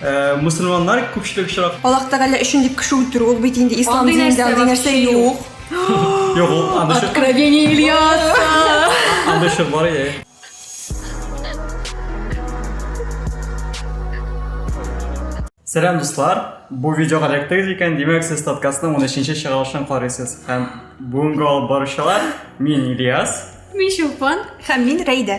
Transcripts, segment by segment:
Э, мусульманнар күпчелек очрак аллах тәгалә өчен дип кеше үтерү ул бит инде ислам Андый динендә нәрсә андый нәрсә вообще юк юк ул анда шо- откровение ильяса анда шо бар иә Сәлам дуслар, бу видеога эләктегез икән, димәк сез подкастның 13-нче чыгарылышын карыйсыз. Һәм бүгенге алып баручылар мин Ильяс, мин чулпан һәм мин рәйдә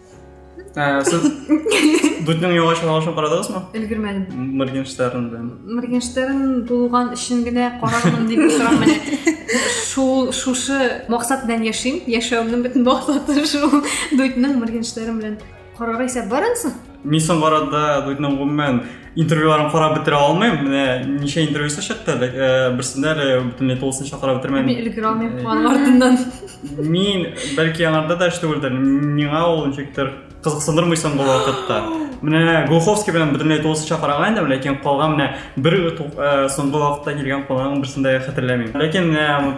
Ә, сез Дүтнең юлга чыгарылышын карадыгызмы? Өлгермәдем. Моргенштерн белән. Моргенштерн булган өчен генә карармын дип торам менә. Шул шушы максат белән яшим. Яшәвемнең бөтен максаты шул. Дүтнең Моргенштерн белән карарга исә барасың. Мин соңгы арада Дүтнең гомумән интервьюларын карап бетерә алмыйм менә ничә интервьюсы чыкты э, берсендә әле бөтенләй тулысынча карап бетермәдем мин өлгерә алмыйм э, аның артыннан мин бәлки аңарда да эш түгелдер миңа ул ничектер кызыксындырмый соңгы вакытта менә глуховский белән бөтенләй тулысынча караган идем ләкин калган менә бер э, соңгы вакытта килгән кунагның берсен дә хәтерләмим ләкин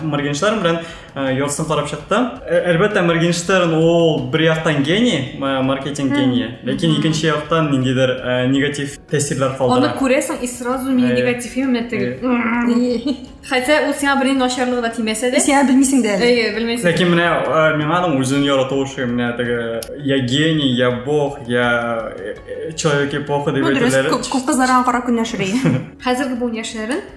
моргенштерн белән Ә, Йорсын карап чыкты. Ә- Әлбәттә, Моргенштерн ул бер яктан гений, ма- маркетинг гении, ләкин икенче яктан ниндидер ә, негатив тәэсирләр Аны калдыра. күрәсең и сразу мин Э, негатив именно э. теге. Хотя ул сиңа бернинди начарлыгы да тимәсә дә. Сиңа белмисең дә әле. Әйе, белмәйсең. Ләкин менә ә, миңа аның үзен ярату шуй, менә теге я гений, я бог, я э, э, человек эпоха дип Ну дөрес, әйтүләре. күп күп кызлар аңа карап көнләшер иде. Хәзерге буын яшьләрен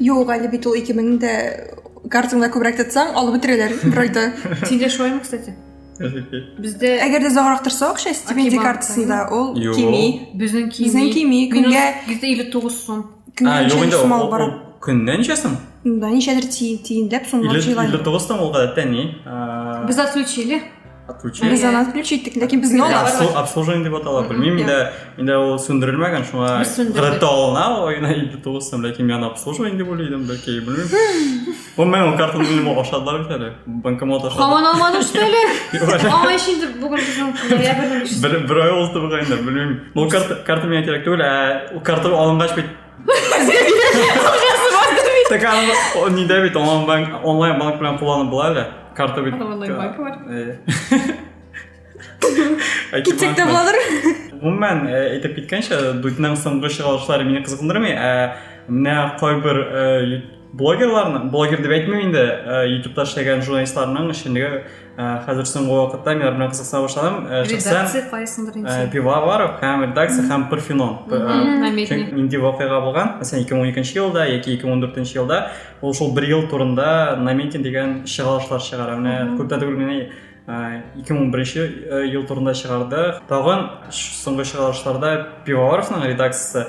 Юк, әле бит ул 2000 дә картыңда күбрәк тотсаң, алып бетерәләр бер айда. Синдә шулаймы, кстати? Бездә Әгәр дә озаграк торса акча стипендия Акибанк, картасында, ул Юк. кими. безнең кими. Безнең кими, көнгә Бездә 59 сум. көнгә А, юк ничә инде, сум алып ул- бара. ул көненә ничәсен? Да, ничәдер ти- тиенләп сумлап Или- җыйган. 59 там ул гадәттә ни? А, Без отключили. отключение без аны отключи иттек ләкин безгә аны обслуживание деп атала белмим инде инде ул сүндерелмәгән шуңа гадәттә алына айына илле тугыз сум ләкин мин аны обслуживание дип уйлый идем бәлки белмим гомумән ул картаны минем ашадылар бит әле банкомат ашады һаман алмадым что ли аңа өчен инде бүген ноябрьнең бер ай ул туган инде белмим ул карта миңа кирәк түгел ә ул карта алынгач бит Така, не дәбит, онлайн банк белән кулланып була әле. Карта бит. Онлайн банк бар. Китсек тә булыр. Гомумән, әйтеп киткәнчә, Дудьның соңгы чыгарылышлары мине кызыксындырмый, ә менә кайбер блогерларның, блогер дип әйтмим инде, ютубта эшләгән журналистларның эшчәнлеге Ә, хәзер соңгы вакытта мин белән кызыксына башладым. Ә, редакция кайсындыр инде. Ә, Пивоваров һәм редакция һәм Парфенон. Нинди вакыйга булган? Мәсәлән, 2012 елда яки 2014 елда ул шул бер ел турында Наметин дигән чыгарылышлар чыгара. Менә күптән түгел менә 2011 ел турында чыгарды. Тагын соңгы чыгарылышларда Пивоваровның редакциясе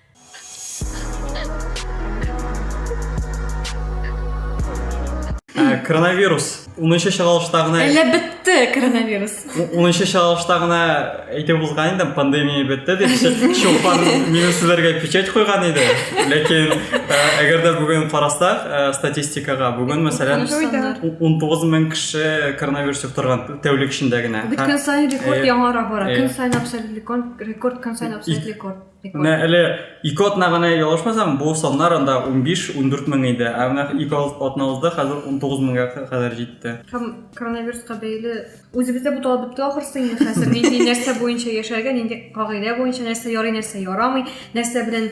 Ә, коронавирус 10-нчы чыгарылышта гына Әллә бетте коронавирус. 10-нчы чыгарылышта гына әйтеп булган инде пандемия бетте дип Чулпан минем сүзләргә печать куйган иде. Ләкин ә, әгәр дә бүген карасак ә, статистикага, бүген мәсәлән 19 мең кеше коронавирус йоктырган тәүлек эчендә генә. Бит көн сайын рекорд яңара бара. Көн сайын абсолют рекорд, көн сайын абсолют рекорд. Менә әле ике атна гына ялгышмасам, бу саннар анда 15-14 мең иде. Ә менә ике атна узды, хәзер 19 меңгә кадәр җитте. Һәм коронавируска бәйле үзебездә бу талап бетте ахрысы инде хәзер. Нинди нәрсә буенча яшәргә, нинди кагыйдә буенча нәрсә ярый, нәрсә ярамый, нәрсә белән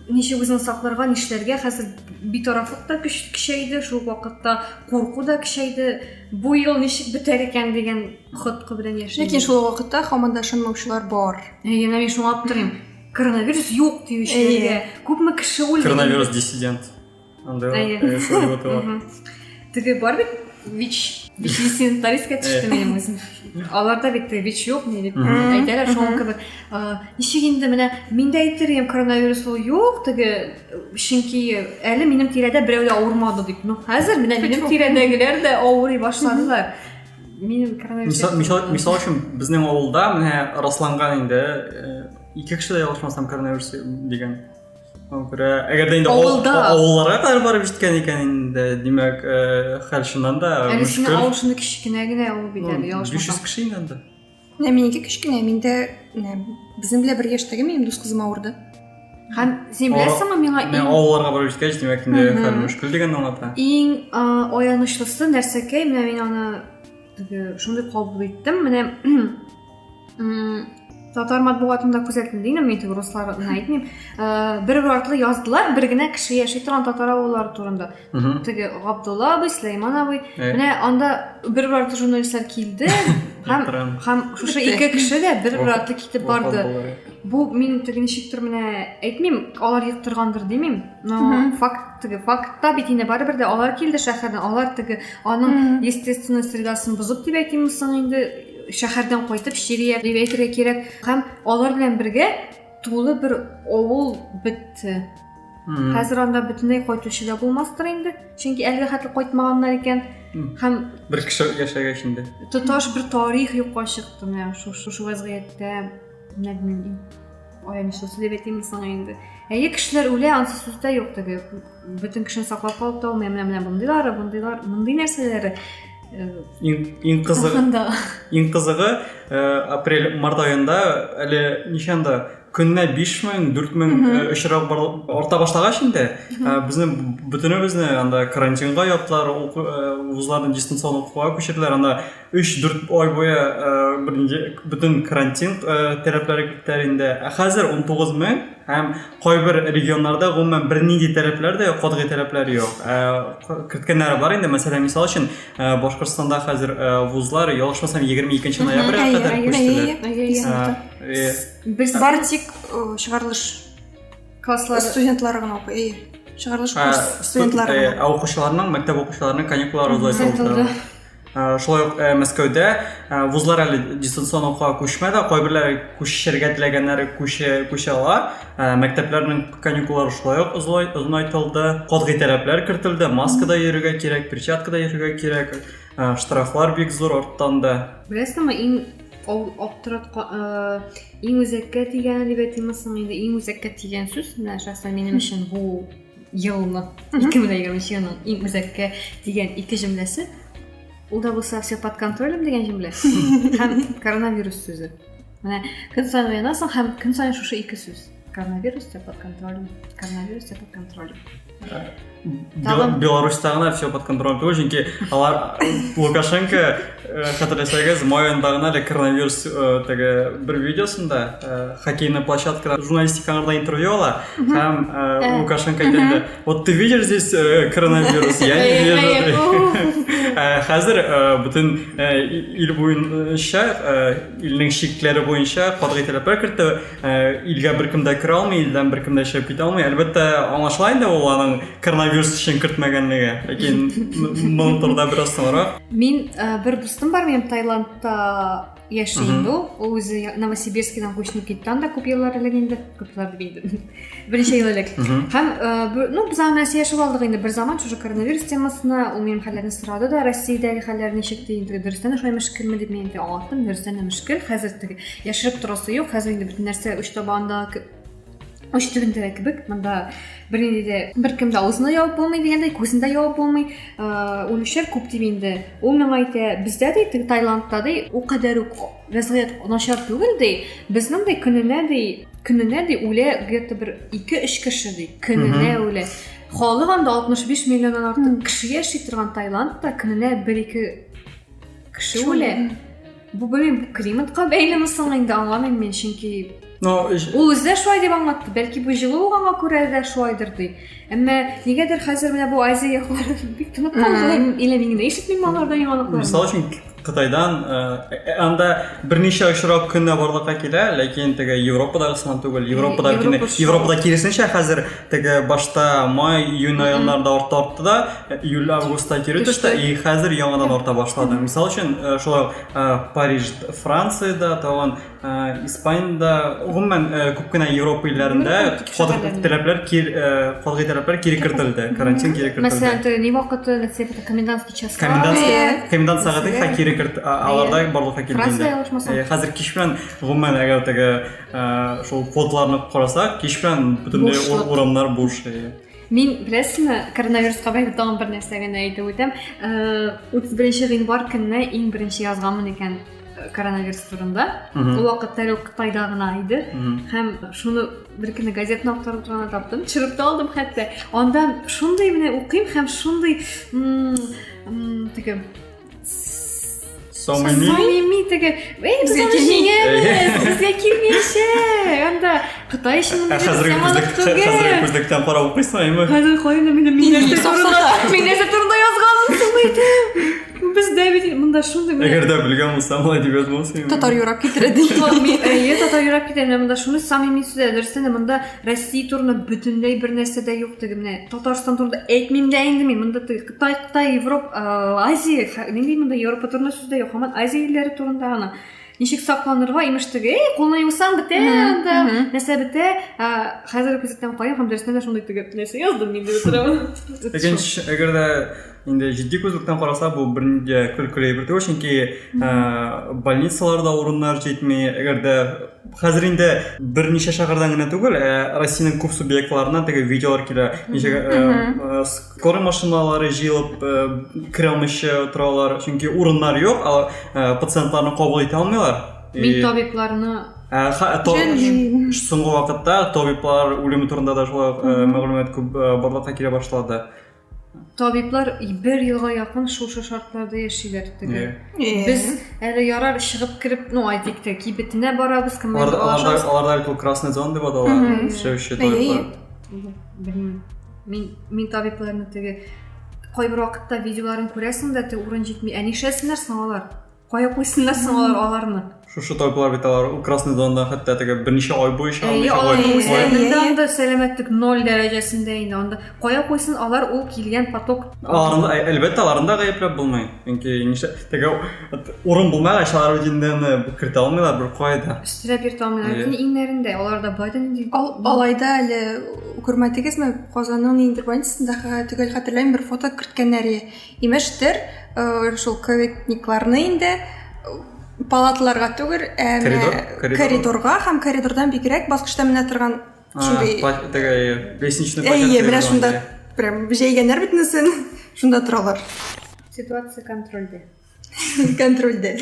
ничек үзеңне сакларга, нишләргә хәзер битарафлык та көчәйде, шул вакытта курку да көчәйде. Бу ел ничек бетәр икән дигән Хоткы белән яшәйм. Ләкин шул вакытта хаман да ышанмаучылар бар. Әйе, менә мин шуңа аптырыйм. Коронавирус юк диючеләргә күпме кеше үлде. Коронавирус диссидент. Анда э, Теге бар бит ВИЧ. ВИЧ диссидентлар искә төште минем үзем. Аларда бит ВИЧ юк ни дип әйтәләр шуңа кебек. Ничек инде менә миндә әйтер идем коронавирус ул юк теге чөнки әле минем тирәдә берәү дә авырмады дип. Ну хәзер менә минем тирәдәгеләр дә авырый башладылар. Минем коронавирус. Мисал, мисал, мисал өчен безнең авылда менә расланган инде э, ике кеше дә ялгышмасам коронавирус дигән. Күрә, әгәр дә инде авылларга кадәр барып җиткән икән инде, димәк, э, хәл чыннан да мөшкел. Әле синең авыл шундый кечкенә генә ул бит әле, ялгышмасам. 500 кеше инде анда. менә минеке кечкенә миндә менә безнең белән бер яшьтәге минем дус кызым авырды һәм син беләсеңме миңа мен авылларга барып җиткәч димәк инде хәл мөшкел дигәнне аңлата иң аянычлысы нәрсәкәй менә мин аны теге шундый кабул иттем менә татар матбугатында күзәттем дигән мин теге русларны әйтмим бер бер артлы яздылар бер генә кеше яши торган татар авыллары турында теге габдулла абый сөләйман абый менә анда бер бер артлы журналистлар килде һәм һәм шушы ике кеше дә бер бер артлы китеп барды бу мин теге ничектер менә әйтмим алар йоктыргандыр димим но факт теге фактта бит инде барыбер дә алар килде шәһәрдән алар теге аның естественный средасын бозып дип әйтимме соң инде шәһәрдән кайтып чирият дип әйтергә кирәк һәм алар белән бергә тулы бер авыл бетте хәзер анда бөтенләй кайтучы да булмастыр инде чөнки әлегә хәтле кайтмаганнар икән һәм бер кеше яшәгәч инде тоташ бер тарих юкка чыкты менә шушы вазгыятьтә менә белмим аянычлы сөйләп әйтимме соң инде әйе кешеләр үлә ансыз сүз дә юк теге бөтен кешене саклап калып та булмый менә менә мондыйлары мондыйлар мондый нәрсәләре иң кызыгы иң кызыгы э, апрель март айында әле ничәнда көненә биш мең дүрт мең э, очрак арта башлагач инде э, безне бөтенебезне анда карантинга яптылар вузларны дистанцион укуга күчерделәр анда өч дүрт ай буе бөтен карантин таләпләре киттеләр инде ә хәзер он тугыз мең Һәм кайбер регионнарда гомумән бернинди таләпләр дә юк, катгый таләпләр юк. Ә, керткәннәре бар инде, мәсәлән, мисал өчен, ә, Башкортстанда хәзер ә, вузлар, ялгышмасам, 22 ноябрьгә Әйе, кадәр әйе, күчтеләр. әйе, әйе, Ә, исәптә. э, Без Бары тик э, чыгарылыш класслар студентлары гына укый. Әйе. Чыгарылыш ә, курс студентлары студ- э, гына. ә укучыларның, мәктәп укучыларының каникуллары озайтылды. Озайтылды. Э, шулай ук э, мәскәүдә э, вузлар әле дистанцион укуга күчмәде кайберләре күчешергә теләгәннәре күчә күчә ала мәктәпләрнең каникуллары шулай ук озынайтылды катгый таләпләр кертелде маскада йөрергә кирәк перчаткада йөрергә кирәк штрафлар бик зур арттан да беләсеңме иң аптыраткан иң үзәккә тигәне дип әйтимме соң инде иң үзәккә тигән сүз менә шәхсән минем өчен бу елны ике мең егерменче елның иң үзәккә дигән ике җөмләсе ул да булса все под контролем дигән җөмлә һәм коронавирус сүзе менә көн саен уянасың һәм көн саен шушы ике сүз коронавирус все под контролем коронавирус все под контролем беларусьта гына все под контролем түгел чөнки алар лукашенко Э, Хәтерләсәгез, май аенда гына әле коронавирус э, теге бер видеосында э, хоккейный площадкада журналистика аңарда интервью ала һәм Лукашенко әйтә вот ты видишь здесь коронавирус я не вижу хәзер бөтен ил буенча илнең чикләре буенча катгый таләпләр кертте илгә беркем дә керә алмый илдән беркем дә чыгып китә алмый әлбәттә аңлашыла инде ул аның коронавирус өчен кертмәгәнлеге ләкин моны турыда бераз соңрак Мин э, бер дустым бар минем Таиландта яши инде ул. Ул үзе Новосибирскидан күченеп китте анда күп еллар элек инде, күп еллар дип инде. Берничә ел элек. Һәм э, ну без аны Россия яшәп алдык инде бер заман шушы коронавирус темасына, ул минем хәлләрне сорады да, Россиядәге хәлләр ничек ди инде, дөрестән шулай мөшкилме дип мин инде аңлаттым, дөрестән дә мөшкил, хәзер теге яшереп торасы юк, хәзер инде бөтен нәрсә уч табанда үш төбендә кебек мында бернинди дә беркем дә авызын да ябып булмый дигәндәй күзен дә ябып булмый үлүчеләр күп дип инде ул миңа әйтә бездә ди теге таиландта ди ул кадәр үк вәзгыять начар түгел ди безнең ди көненә ди көненә ди үлә где то бер ике өч кеше ди көненә үлә халык анда алтмыш биш миллионнан артык кеше яши торган таиландта көненә бер ике кеше үлә Бу белмим, климатка бәйлеме соң инде аңламыйм мин, чөнки Но ул үзе дә шулай дип аңлатты. Бәлки бу җылы булганга күрә дә шулайдыр ди. Әмма нигәдер хәзер менә бу Азия яклары бик тынып калды. Или мин генә ишетмим алардан яңалыклар. Мисал өчен Кытайдан анда берничә очрак көннә барлыкка килә, ләкин теге Европадагысыннан түгел. Европада Европада киресенчә хәзер теге башта май июнь районнарда арта артты да июль августта кире төште и хәзер яңадан арта башлады мисал өчен э, шулай э, париж францияда тагын э, испанияда гомумән күп кенә европа илләрендә катгый таләпләр катгый таләпләр кире кертелде карантин кире кертелде мәсәлән ни вакыты комендантский час комендант комендант сәгате кире керт аларда барлыкка килде инде хәзер кич белән гомумән әгәр теге Шул фотоларны карасак, кич белән бөтенләй урамнар буш. Мин беләсеңме, коронавирусқа бәйле тагын бер нәрсә генә әйтеп үтәм. 31 гыйнвар көнне иң беренче язганмын икән коронавирус турында. Ул вакытта әле Кытайда гына иде. Һәм шуны бер көнне газетаны актарып торганда таптым. Төшереп тә алдым хәтта. Анда шундый менә укыйм һәм шундый теге Самыйми? Самыйми теге. Эй, без аны җиңәбез. Безгә килмиячә. Анда Кытай өчен мондый хәзерге күзлек, хәзерге күзлектән карап укыйсың, әйме? Хәзер кайда мине миннәсе турында, миннәсе турында язганмын, сумыйды. Бездә бит монда шундый. Әгәр дә белгән булсам, алай дип язмасын. Татар юрап китерә ди. Әйе, татар юрап китә. Менә монда шуны самыйми сүзләр дөрестән монда Россия турында бөтенләй бер нәрсә дә юк теге менә. Татарстан турында әйтмим дә инде мин. Монда теге Кытай, Кытай, Европ, э, Азия, мин дим монда Европа турында сүз дә юк, һаман Азия илләре турында гына. Ничек сакланырга, имеш теге, эй, кулны юсаң бетә анда, нәрсә бетә. Э, хәзер күзәтәм кая һәм дәрестә дә шундый теге нәрсә яздым мин дип торам. Икенче, әгәр дә инде җитди күзлектән караса, бу бернидә көлкеле бер түгел, чөнки э, больницаларда урыннар җитми, әгәр дә хәзер инде берничә шәһәрдән генә түгел, ә Россиянең күп субъектларына теге видеолар килә, ничек Скорый машиналары җыелып э, керә алмыйча торалар, чөнки урыннар юк, алар э, пациентларны кабул итә алмыйлар. Мин И- табибларны Ә, ха- ә, то- Җәнлим. ш- Соңгы вакытта табиблар үлеме турында да шулай ук, э, мәгълүмат күп э, барлыкка килә башлады. табиблар бер елга якын шушы шартларда яшиләр теге. Э, Э, Без әле ярар чыгып кереп, ну әйтик тә кибетенә барабыз, кем Аларда аларда аларда әле красный зон дип атала, Мгм. эшләүче Әйе. табиблар. Белмим. Мин, мин табибларны теге кайбер вакытта видеоларын күрәсең дә, теге урын җитми. Ә нишләсеннәр соң алар? Кая куйсыннар соң алар аларны? Шушы табиблар бит алар красный зонада хәтта теге берничә ай буе чыга Әйе, алмыйча алар куя. үзләренең дә Әйе. анда сәламәтлек ноль дәрәҗәсендә инде. Анда кая куйсын алар ул килгән поток Аларны, ә- әлбәттә, аларны да гаепләп булмый. Чөнки нишлә теге Урын булмагач, алар үзеннән кертә алмыйлар бер кайда. Өстенә кертә алмыйлар. Бөтен иңнәрендә. Аларда Байден инде. Алайда әле күрмәдегезме, Казанның ниндидер больницасындагы төгәл хәтерләмим, бер фото керткәннәре. Имештер, э, шул ковидникларны инде э, палатларга түгел, ә коридор, коридор. коридорга һәм коридордан бигрәк баскычта менә торган Шундый такая лестничный площадка. Әйе, менә шунда прям җәйгәннәр бит инесен, шунда торалар. Ситуация контрольдә. Контрольдә.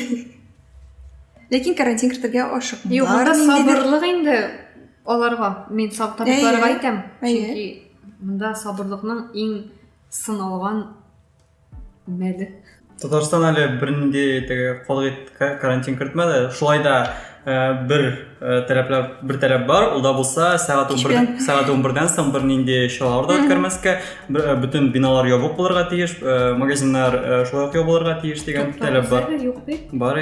Ләкин карантин кертергә ашык. Юк, монда сабырлык инде аларга. Мин табибларга әйтәм. Чөнки монда сабырлыкның иң сыналган Мәле. Татарстан әле бернинди теге калгыт карантин кертмәде. Шулай да э, бер э, таләпләр бер таләп бар, ул да булса сәгать 11 сәгать 11-дән соң бернинди чаралар да үткәрмәскә, э, бөтен биналар ябык булырга тиеш, магазиннар шулай ук ябылырга тиеш дигән таләп бар. Бар,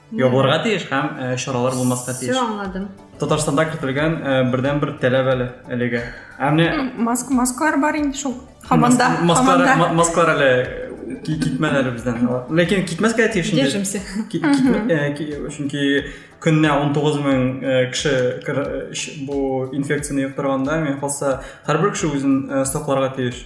Ябылырга тиеш һәм э, чаралар булмаска тиеш. Все аңладым. Татарстанда кертелгән э, бердән бер таләп әле әлеге. Ә менә Маск, маскалар бар инде шул. Хаманда, мас- маскалар хаманда. ма- маскалар әле ки- китмәде әле бездән. Ләкин китмәскә тиеш инде. Держимся. Ки- китмә- э, ки- Чөнки көненә 19 мең э, кеше кер- э, ш- бу инфекцияне йоктырганда, мин калса, һәрбер кеше үзен э, сакларга тиеш.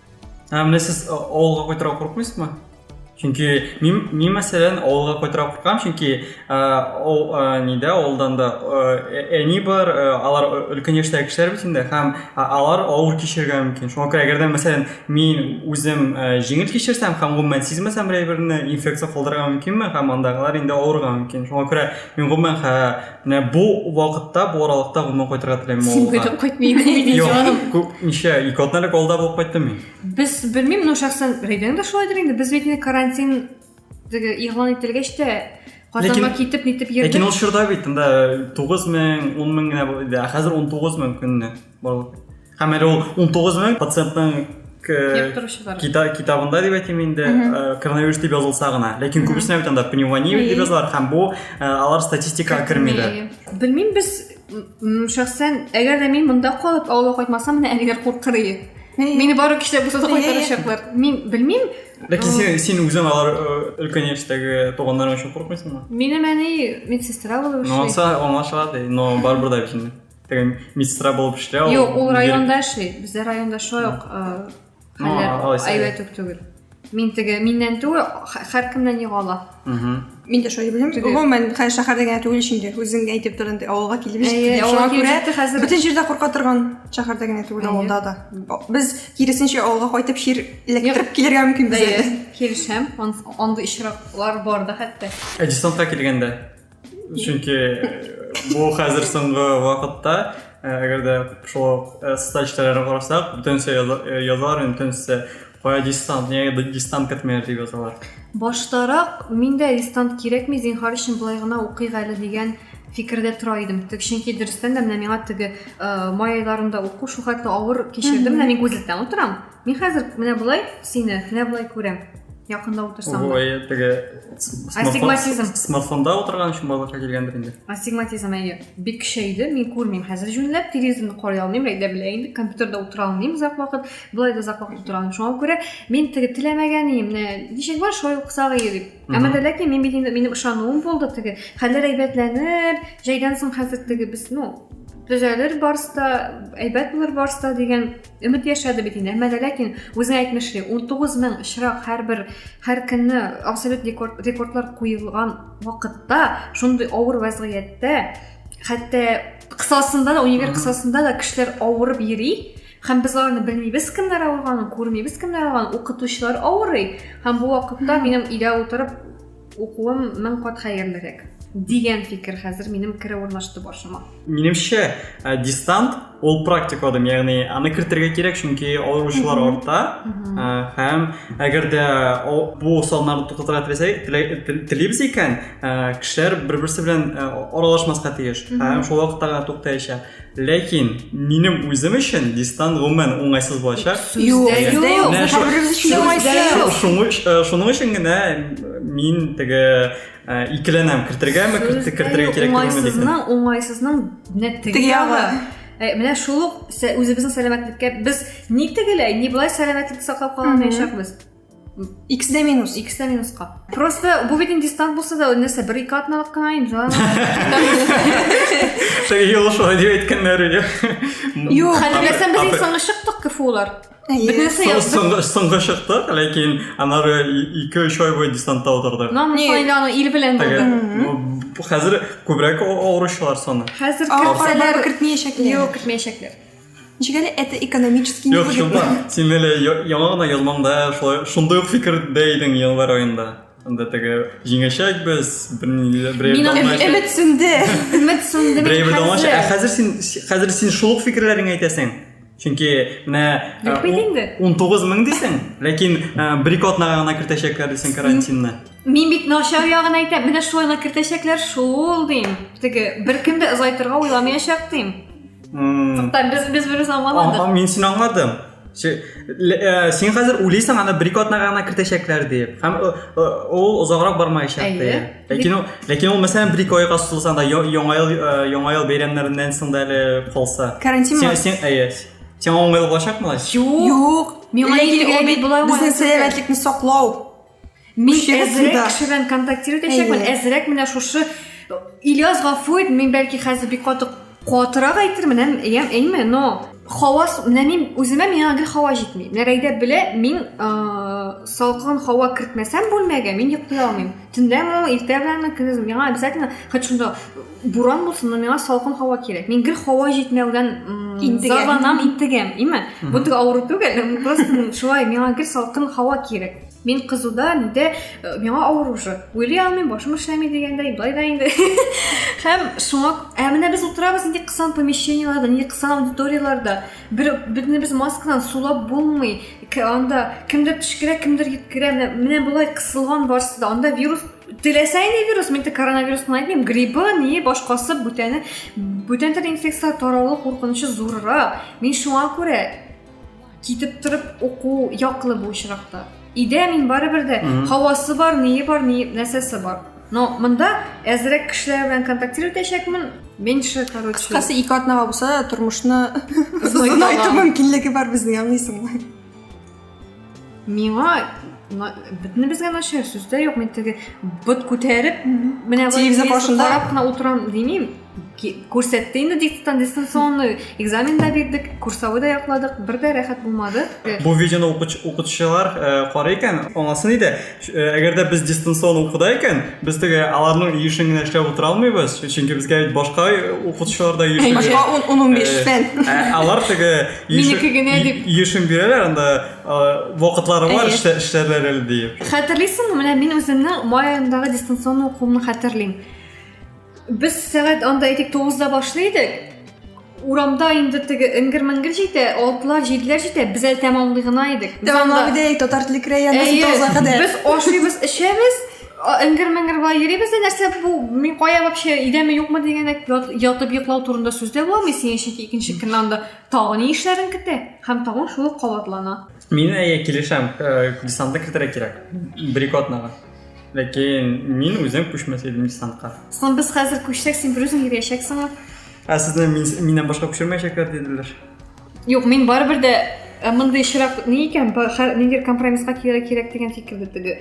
Ә менә сез авылга кайтырга куркмыйсызмы? Чөнки мин, мин мәсәлән, авылга кайтырга куркам, чөнки ул нидә авылдан да әни бар, алар өлкән яшьтәге кешеләр бит инде һәм алар авыр кичерергә мөмкин. Шуңа күрә әгәр дә мәсәлән мин үзем җиңел кичерсәм һәм гомумән сизмәсәм берәй берне инфекция калдырырга мөмкинме һәм андагылар инде авырырга мөмкин. Шуңа күрә мин гомумән Менә бу вакытта, бу аралыкта гомумән кайтырга теләмим Син авылга. көтеп кайтмый идең бит, Юк, җаным. күп ничә, ике атна элек алда булып кайттым мин. Без белмим, но шәхсән Рәйдәнең дә шулайдыр инде. Без бит инде карантин теге игълан ителгәч тә Казанга Ләкин- китеп нитеп Ләкин йөрдек. ул чорда бит анда 9 мең, 10 мең генә булды, ә хәзер 19 мең көнне. барлык һәм әле ул он тугыз мең пациентның китабында дип әйтим инде коронавирус дип язылса гына ләкин күбесенә бит анда пневмония дип язалар һәм бу алар статистикага кермиләр белмим без шәхсән әгәр дә мин монда калып авылга кайтмасам менә әниләр куркыр ие мени бары кешеләр булса да кайтарачаклар мин белмим ләкин син син үзең алар өлкән яшьтәге туганнарың өчен курыкмыйсыңмы минем әни медсестра булып эшли ну анса аңлашыла ди но барыбер дә бит инде деген медсестра болып эшлә ул юк ул районда эшли бездә районда шулай ук хәлләр әйбәт үк түгел мин теге миннән түгел һәркемнән йога ала мин дә шулай белдем гомумән хәзер шәһәрдә генә түгел ич инде үзең әйтеп тор инде авылга килеп җиттек шуңа күрә хәзер бөтен җирдә курка торган шәһәрдә генә түгел авылда да без киресенчә авылга кайтып чир эләктереп килергә мөмкин безгә килешәм андый очраклар бар да хәтта ә десантка килгәндә чөнки бу хәзер соңгы вакытта әгәр дә шул статистикаларга карасак бөтенесе язалар инде бөтенесе кая дистант нигә дистант кертмәйләр дип язалар баштарак мин дә дистант кирәкми зинһар өчен болай гына укыйк әле дигән фикердә тора идем чөнки дөрестән дә менә миңа теге май айларында уку шул хәтле авыр кичердем менә мин гузельда утырам Мин хәзер менә болай сине, менә болай күрәм. Якында утырсам да. Ой, теге астигматизм. Смартфонда утырган өчен балаларга килгәндер инде. Астигматизм әйе. Бик көчәйде. Мин күрмим хәзер җүнләп, телевизорны карый алмыйм, әйдә белә инде, компьютерда утыра алмыйм озак вакыт. Болай да озак вакыт утыра алмыйм. Шуңа күрә мин теге теләмәгән идем, менә ничек бар, шулай укысак иде дип. Әмма дә ләкин мин бит инде минем ышануым булды теге. Хәлләр әйбәтләнер, җәйдән соң хәзер теге без, ну, төзәлер барсы да, әйбәт булыр барсы да дигән Өмет яшәде бит инде, әмма дә ләкин үзең әйтмешли, 19 мең чирак һәрбер һәр көнне абсолют рекордлар куелган вакытта, шундый авыр вазгыятьтә, хәтта кысасында да, универ кысасында да кешеләр авырып йөри, һәм без аларны белмибез кемнәр авырганын күрмибез кемнәр авырганын укытучылар авырый һәм бу вакытта минем өйдә утырып Укуым мең кат хәерлерәк дигән фикер хәзер минем керә урнашты башыма. Минемчә, э, дистант ул практик адым, ягъни аны кертергә кирәк, чөнки авыручылар арта. Э, һәм әгәр дә бу саннарны туктатырга теләсәк, телибез икән, э, кешеләр бер-берсе белән аралашмаска тиеш. Һәм шул вакытта гына туктаячак. Ләкин минем үзем өчен дистан гомумән уңайсыз булачак. Юк, дә юк. Һәрберебез өчен уңайсыз. Шуның өчен генә мин теге икеләнәм, кертергәме, кертергә кирәк түгелме дип. Уңайсызның, уңайсызның менә теге ягы. Э, менә шул ук үзебезнең сәламәтлеккә без ни тегеләй, ни болай сәламәтлек саклап кала алмаячакбыз. X дә минус. X дә минусқа. Просто бу бит инде дистант булса да, нәрсә, бер ике атналык кына инде. Теге юл шулай дип әйткәннәр иде. Юк, хәтерләсәм без иң соңгы чыктык КФУлар. Бөтенесе яздык. Соңгы чыктык, ләкин анары 2-3 ай буе дистантта утырдык. Ну, мы инде аны ил белән булды. Хәзер күбрәк авыручылар саны. Хәзер кертмәячәкләр. Юк, кертмәячәкләр. Ничек әле это экономически Юк, невыгодно. чынлап, син әле я- яңа гына язмаңда шулай шундый ук фикердә идең январь аенда. Анда теге җиңәчәк без, берни- берәй Мин дамлача- Эм- Өмет сүнде. Өмет сүнде мин Берәй бер дамлача. Ә хәзер. хәзер син хәзер син шул ук фикерләреңне әйтәсең. Чөнки менә э, Юк бит инде. 19 мең дисең, ләкин э, бер-ике атнага гына кертәчәкләр дисең карантинны. Мин бит начар ягын әйтәм. Менә шулай гына кертәчәкләр шул дим. Теге беркем дә озайтырга уйламаячак дим. Туктар, без без берүз аңламадык. Аңа мин син аңладым. Э, син хәзер уйлыйсың аны бер ике атнага гына кертәчәкләр дип һәм э, э, ул озаграк бармаячак дип ләкин ул ләкин ул мәсәлән бер ике айга сузылса да яңа ел яңа ел бәйрәмнәреннән соң да әле калса карантин син син әйе сиңа уңайлы булачакмы юк миңа ләкин ул бит болай безнең сәламәтлекне саклау Мин әзрәк кеше белән контактировать итәчәкмен, әзрәк менә шушы Ильяс Гафуев, мин бәлки хәзер бик каты катырак әйтермен, әм, әм, әйме, но хава, менә мин үземә миңа гел хава җитми. Менә Рәйдә белә, мин э, салкын хава кертмәсәм бүлмәгә, мин йоклый алмыйм. Төнләме, иртә беләнме, көндез миңа обязательно, хоть шунда буран булсын, но миңа салкын хава кирәк. Мин гел хава җитмәүдән зарланам, интегәм, әйме. Бу тик авыру түгел, просто шулай миңа гел салкын хава кирәк. Мин кызуда нидә э, миңа авыр уже. Уйлый алмыйм, башым эшләми дигәндәй, былай да инде. Һәм шуңа, ә менә без утырабыз нинди кысан помещениеларда, нинди кысан аудиторияларда. Бер бөтен без маскадан сулап булмый. Анда кемдер төшкерә, кемдер йөткерә. Менә, менә болай кысылган барсы да. Анда вирус теләсә инде вирус, мин тек коронавирус кына әйтмим, гриппы, не, башкасы, бүтәне, бүтән төр инфекцияләр таралу куркынычы зуррак. Мин шуңа күрә китеп торып уку яклы бу очракта өйдә мин барыбер дә һавасы бар ние бар ни нәрсәсе бар но мында әзрәк кешеләр белән контактировать итәчәкмен меньше короче кыскасы ике атнага булса да тормышны озынайту мөмкинлеге бар безнең аңлыйсыңмы миңа бөтенебезгә начар сүз дә юк мен теге быт күтәреп менә телевизор карап кына утырам демим күрсәтте инде диктант дистанционный экзамен да бирдек курсовой да якладык бер дә рәхәт булмады бу видеоны укытучылар э, карый икән аңласын иде э, әгәр дә без дистанцион укуда икән без теге аларның ешын генә эшләп утыра алмыйбыз чөнки безгә бит башка укытучылар да ешын башка он он унбиш э, фән ә, алар теге минеке генә дип ешын бирәләр анда вакытлары бар эшләрләр әле диеп хәтерлисеңме менә мин үземнең май аендагы дистанцион укуымны хәтерлим Без сәгать анда әйтик 9-да башлый идек. Урамда инде теге ингер-мингер җитә, алтлар, җидләр җитә, без әле тәмамлый гына идек. Без анда- Тәмамлап идек, татар теле краенда Әйе, тоза кадәр. Без ашыйбыз, эчәбез, а- ингер-мингер була йөрибез дә нәрсә бу, мин кая вообще идәме юкмы дигәндә ят- ятып йоклау турында сүз дә буламый синең чөнки икенче көнне анда тагын ни эшләрен көтә һәм тагын шул ук кабатлана. Мин әйе килешәм, э, десантны кертергә кирәк. Брикотнага. Ләкин мин үзем күчмәс идем десантка. Соң без хәзер күчсәк, син берүзең йөрәчәксеңме? Ә сезне миннән башка күчермәячәкләр диделәр. Юк, мин барыбер дә э, мондый чирак ни икән, ниндидер компромисска килергә кирәк дигән фикердә теге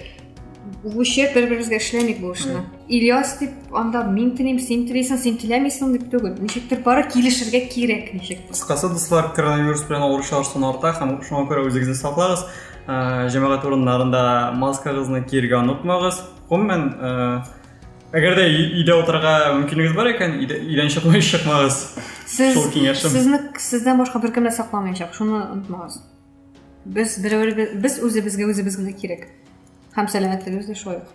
лучше бер беребезгә эшләмик бу эшне. Ильяс дип анда мин телим, син телисең, син теләмисең дип түгел. Ничектер бары килешергә кирәк ничек. Кыскасы, дуслар, коронавирус белән авыручылар саны арта һәм шуңа күрә үзегезне саклагыз. ә, җәмәгать урыннарында маскагызны киергә онытмагыз. Гомумән, ә, әгәр дә өйдә утырырга мөмкинлегегез бар икән, өйдән чыкмай чыкмагыз. Сез, Шул киңәшем. Сезне сездән башка беркем дә сакламаячак, шуны онытмагыз. Без берәү без үзебезгә үзебез генә кирәк. Һәм сәламәтлегебез дә шулай ук.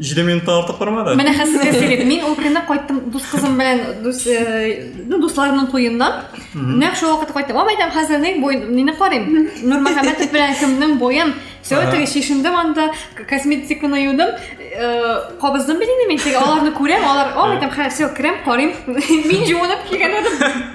җиде минуттан артык бармады менә хәзер сезгә сөйләдем мин ул көнне кайттым дус кызым белән дус ну дусларымның туеннан нәкъ шул вакытта кайттым ам әйтәм хәзер ни бой мине карыйм нурмөхәммәтов белән кемнең боен все теге чишендем анда косметиканы юдым кабыздым бит инде мин теге аларны күрәм алар ам әйтәм хә все керәм карыйм мин җуынып килгән идем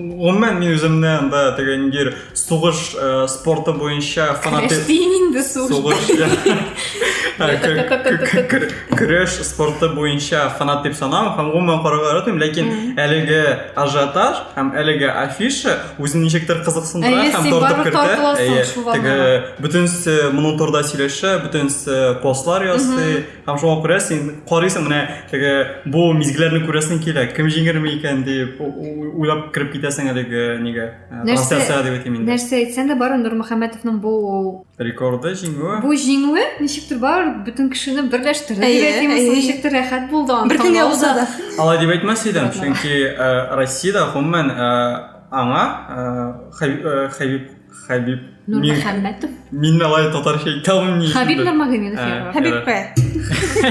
Гомумән мин үземне анда теге ниндидер сугыш э, спорты буенча фанатик Кәштин инде сугыш. сугыш Ә, кө- кө- кө- кө- көрәш спорты буенча фанат дип санам һәм гомумән карарга яратмыйм ләкин әлеге ажиотаж һәм әлеге афиша үзен ничектер кызыксындыра Әйе, һәм син тартып барып кертә тартыласың Әйе, шул теге аллага. бөтенесе моның турында сөйләшә бөтенесе постлар ясый Һәм шуңа күрә син карыйсың менә теге бу мизгелләрне күрәсең килә. Кем җиңерме икән дип уйлап кереп китәсең әлеге нигә. Э, трансляциягә дип әйтим инде. Нәрсә әйтсәң дә бар Нурмөхәммәтовның бу рекорды җиңүе. Бу җиңүе ничектер бар бөтен кешене берләштерде дип әйтимме, ничектер рәхәт булды аны. Бер көнгә уза да. Алай дип әйтмәс идем, чөнки э, Россиядә гомумән э, аңа Хәбиб Хәбиб. Нурмөхәммәтов. Мин алай татарча әйтә алмыйм ни. Хәбиб Нурмагомедов яра. Хәбибкә.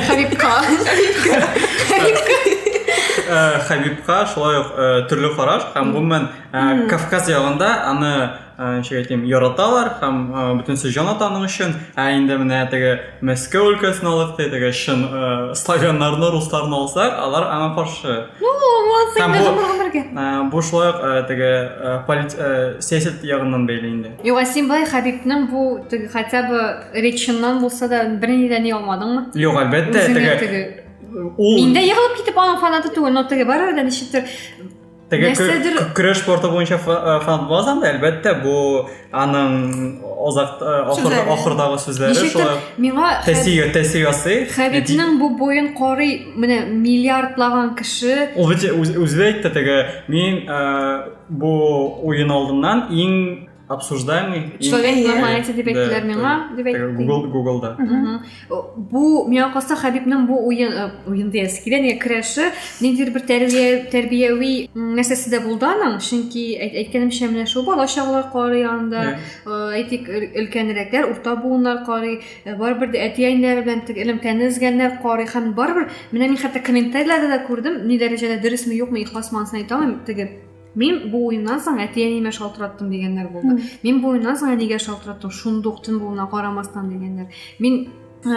Хәбибка. Хәбибка шулай ук төрле караш һәм гомумән Кавказ ягында аны ничек әйтим, яраталар һәм бөтенесе җан ата аның өчен. Ә инде менә теге Мәскәү өлкәсен алып әйтәгә чын э, славяннарны, русларны алсак, алар аңа каршы. Ну, вот сен бу, гомергә. Э, бу шулай ук э, теге полит, сәясәт ягыннан бәйле инде. Юк, син бай Хәбибнең бу теге хотя бы реченнан булса да берни дә ни алмадыңмы? Юк, әлбәттә, теге. Ул... Мин дә егылып китеп аның фанаты түгел, но теге барыбер дә ничектер Теге Нәрсәдер... көрәш спорты буенча э, фанат булмас анда, әлбәттә, бу аның озак э, ахырда ахырдагы сүзләре шулай. Миңа тәсио тәсиосы. Хәбибнең бу буен карый, менә миллиардлаган кеше. Ул үзе әйтте теге, мин э, бу уен алдыннан иң обсуждаемый. Человек и, на эти дебетлер миңа дебет. Google Google да. Бу миңа калса Хәбибнең бу уен э, уен диясе килә, нигә керәше, ниндидер бер тәрбия тәрбияви нәрсәсе дә булды аның, чөнки әйткәнемчә менә шул бала чагалар кары янында, э, әйтик өлкәнрәкләр, урта буыннар кары, э, барыбер дә әти-әниләр белән тек элемтәне эзгәннәр кары һәм барыбер менә мин хәтта комментарийларда да күрдем, ни дәрәҗәдә дөресме юкмы ихласмы анысын әйтә алмыйм, теге Мин бу уеннан соң әти-әниемә шалтыраттым дигәннәр булды. Мин бу уеннан соң әнигә шалтыраттым, шундук төн булуына карамастан дигәннәр. Мин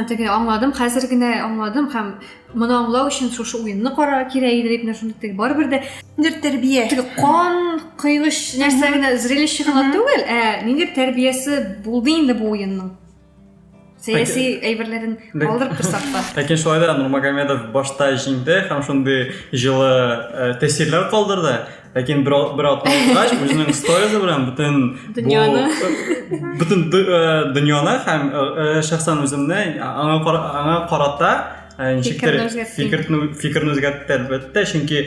теге аңладым, хәзер генә аңладым һәм моны аңлау өчен шушы уенны карар кирәк иде дип нәрсә барыбер дә ниндидер тәрбия. Теге кан кыйныч нәрсә генә зрелище гына түгел, ә ниндидер тәрбиясе булды инде бу уенның. сәяси әйберләрен калдырып торсак та ләкин шулай да нурмагомедов башта җиңде һәм шундый җылы э, тәэсирләр калдырды ләкин бер бер атна узгач үзенең сторизы белән бөтен дөньяны бөтен э, дөньяны һәм э, шәхсән үземне аңа аңа карата ничектер фикерне фикерне үзгәртте әлбәттә чөнки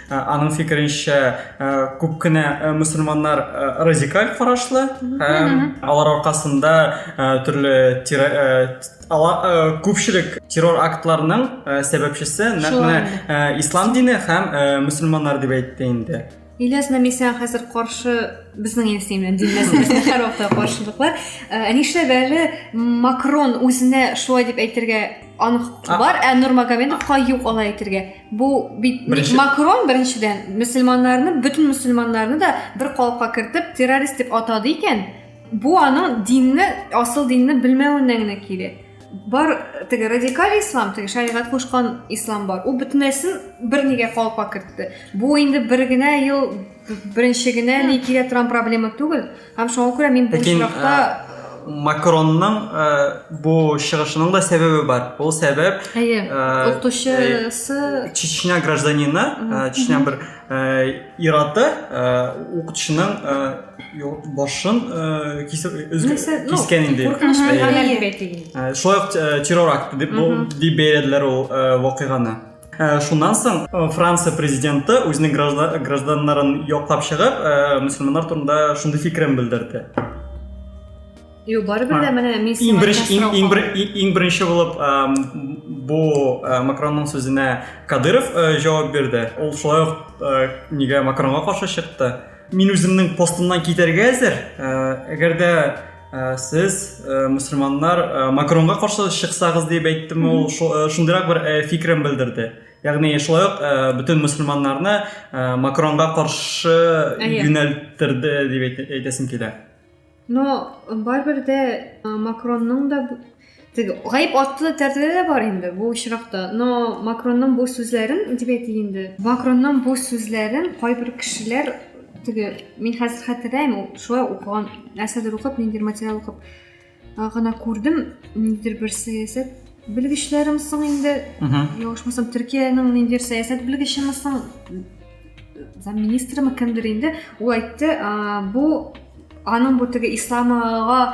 Аның фикеренчә, күп кенә мусульманнар радикаль карашлы һәм алар аркасында төрле күпчелек террор актларының сәбәпчесе нәкъ менә ислам дине һәм мусульманнар дип әйтте инде. Ильяс Намисян хәзер каршы безнең Ильясны белән дин мәсьәләсендә һәр вакытта каршылыклар. Ә нишләп әле Макрон үзенә шулай дип әйтергә анык бар, ә Нурмагомедовка юк алай әйтергә? Бу бит Беренче... Макрон беренчедән мөселманнарны, бөтен мөселманнарны да бер калыпка кертеп террорист дип атады икән. Бу аның динне, асыл динне белмәвеннән генә килә. Бар теге радикаль ислам, теге шәригать кушкан ислам бар. Ул бөтенесен бер нигә калыпка кертте. Бу инде бер генә ел беренче генә ни килә торган проблема түгел. Һәм шуңа күрә мин бу очракта Макронның ә, бу чыгышының да сәбәбе бар. Ул сәбәп Әйе. Укытучысы Чечня гражданины, Чечня бер ираты укытучының башын кисеп кискән инде. Шулай ук террор акты дип дип бәяләделәр ул вакыйганы. Ә, шуннан соң э, франция президенты үзенең гражданнарын яклап чыгып э, мөселманнар турында шундый фикерен белдерде Юк, барыбер дә менә мин иң беренче иң, иң, иң беренче булып э, бу э, Макронның сүзенә Кадыров э, җавап бирде. Ул шулай ук э, нигә Макронга каршы чыкты? Мин үземнең постымнан китәргә әзер. Э, әгәр дә Ә, сез ә, мөселманнар ә, макронга каршы чыксагыз дип әйттеме ул ә, шундыйрак бер ә, фикерен белдерде ягъни шулай ук ә, бөтен мөселманнарны ә, макронга каршы юнәлттерде дип әйтәсем килә но барыбер дә макронның да Теге гаеп атты да тәртәдә дә бар инде бу очракта. Но Макронның бу сүзләрен дип әйтик инде. Макронның бу сүзләрен кайбер кешеләр теге мин хәзер хәтерләйм, шулай укыган нәрсәдер укып, ниндидер материал укып гына күрдем, ниндидер бер сәясәт белгечләрем соң инде, ялгышмасам, Төркиянең ниндидер сәясәт белгечеме соң, замминистрымы кемдер инде, ул әйтте, бу аның бу теге исламга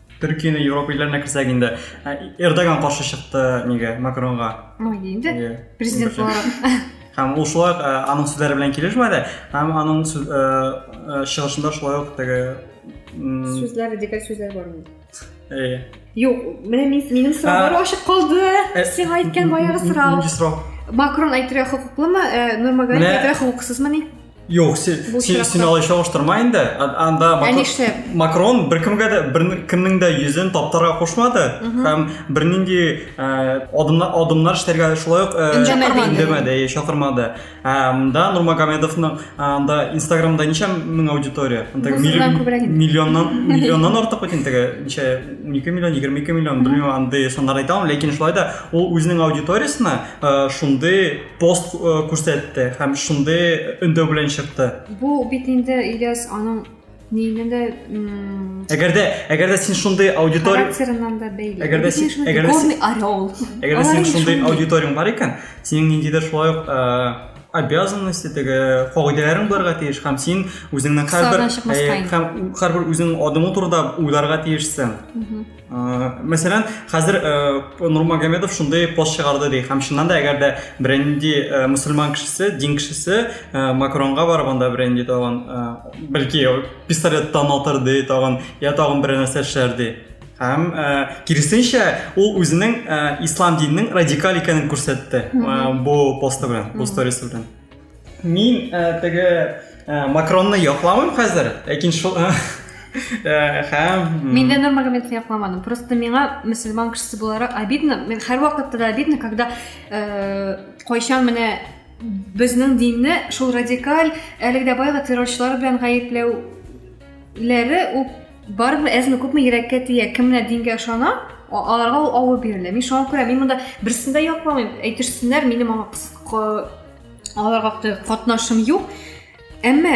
Төркияне Европа илләренә керсәк инде, ә, Эрдоган каршы чыкты нигә, Макронга. Ну, инде, Иә. президент Бөтен. буларак. Һәм ул шулай ук, ә, аның сүзләре белән килешмәде, һәм аның сүз- ә, ә, чыгышында шулай ук теге... м, Сүзләр, радикаль сүзләр бар инде. э, Юк, менә мин, минем сораулар А. ачык калды. э, Сиңа әйткән баягы сорау. Нинди сорау? Макрон әйтергә хокуклымы, э, Нурмагалиев Менә- әйтергә хокуксызмыни? Юк, син, син, син алай чагыштырма инде. Анда Макрон беркемгә дә беркемнең дә йөзен таптарга кушмады һәм бернинди адымнар адымнар эшләргә шулай ук өндәмәде, чакырмады. Анда Нурмагомедовның анда Инстаграмда ничә мең аудитория? Миллионнан миллионнан артык бит инде. Ничә 12 миллион, 22 миллион, белмим, андый саннар әйтә алмыйм, ләкин шулай да ул үзенең аудиториясенә шундый пост э, күрсәтте һәм шундый өндәү белән чыкты. Бу бит инде Ильяс аның нигенә дә Әгәр дә әгәр дә син шундый аудитория характерыннан да бәйле. Әгәр дә син әгәр дә син орел. Әгәр дә син шундый аудиторияң бар икән, синең ниндидер шулай ук э, обязанности теге кагыйдәләрең булырга тиеш һәм син үзеңнең һәрбер һәм һәрбер үзеңнең адымың турында уйларга тиешсең. Мәсәлән, хәзер Нурмагомедов шундый пост чыгарды ди, һәм чыннан да, әгәр дә беренди мусульман кешесе, дин кешесе Макронга барып анда беренди тагын, бәлки пистолеттан атыр ди тагын, я тагын бер нәрсә эшләр ди. Һәм киресенчә, ул үзенең ислам диненең радикаль икәнен күрсәтте бу посты белән, бу сторис белән. Мин ә, теге ә, Макронны яклавым хәзер, ләкин шул ә, һәм Мин дә Нурмагомедовны якламадым. Просто миңа мөселман кешесе буларак обидно. Мин һәр вакытта да обидно, когда э, кайчан менә безнең динне шул радикаль әлеге дә баягы террорчылар белән гаепләүләре ул барыбер әзме күпме йөрәккә тия кемнәр дингә ышана аларга ул авыр бирелә мин шуңа күрә мин монда берсен дә якламыйм әйтерсеннәр минем аңа аларга катнашым юк әмма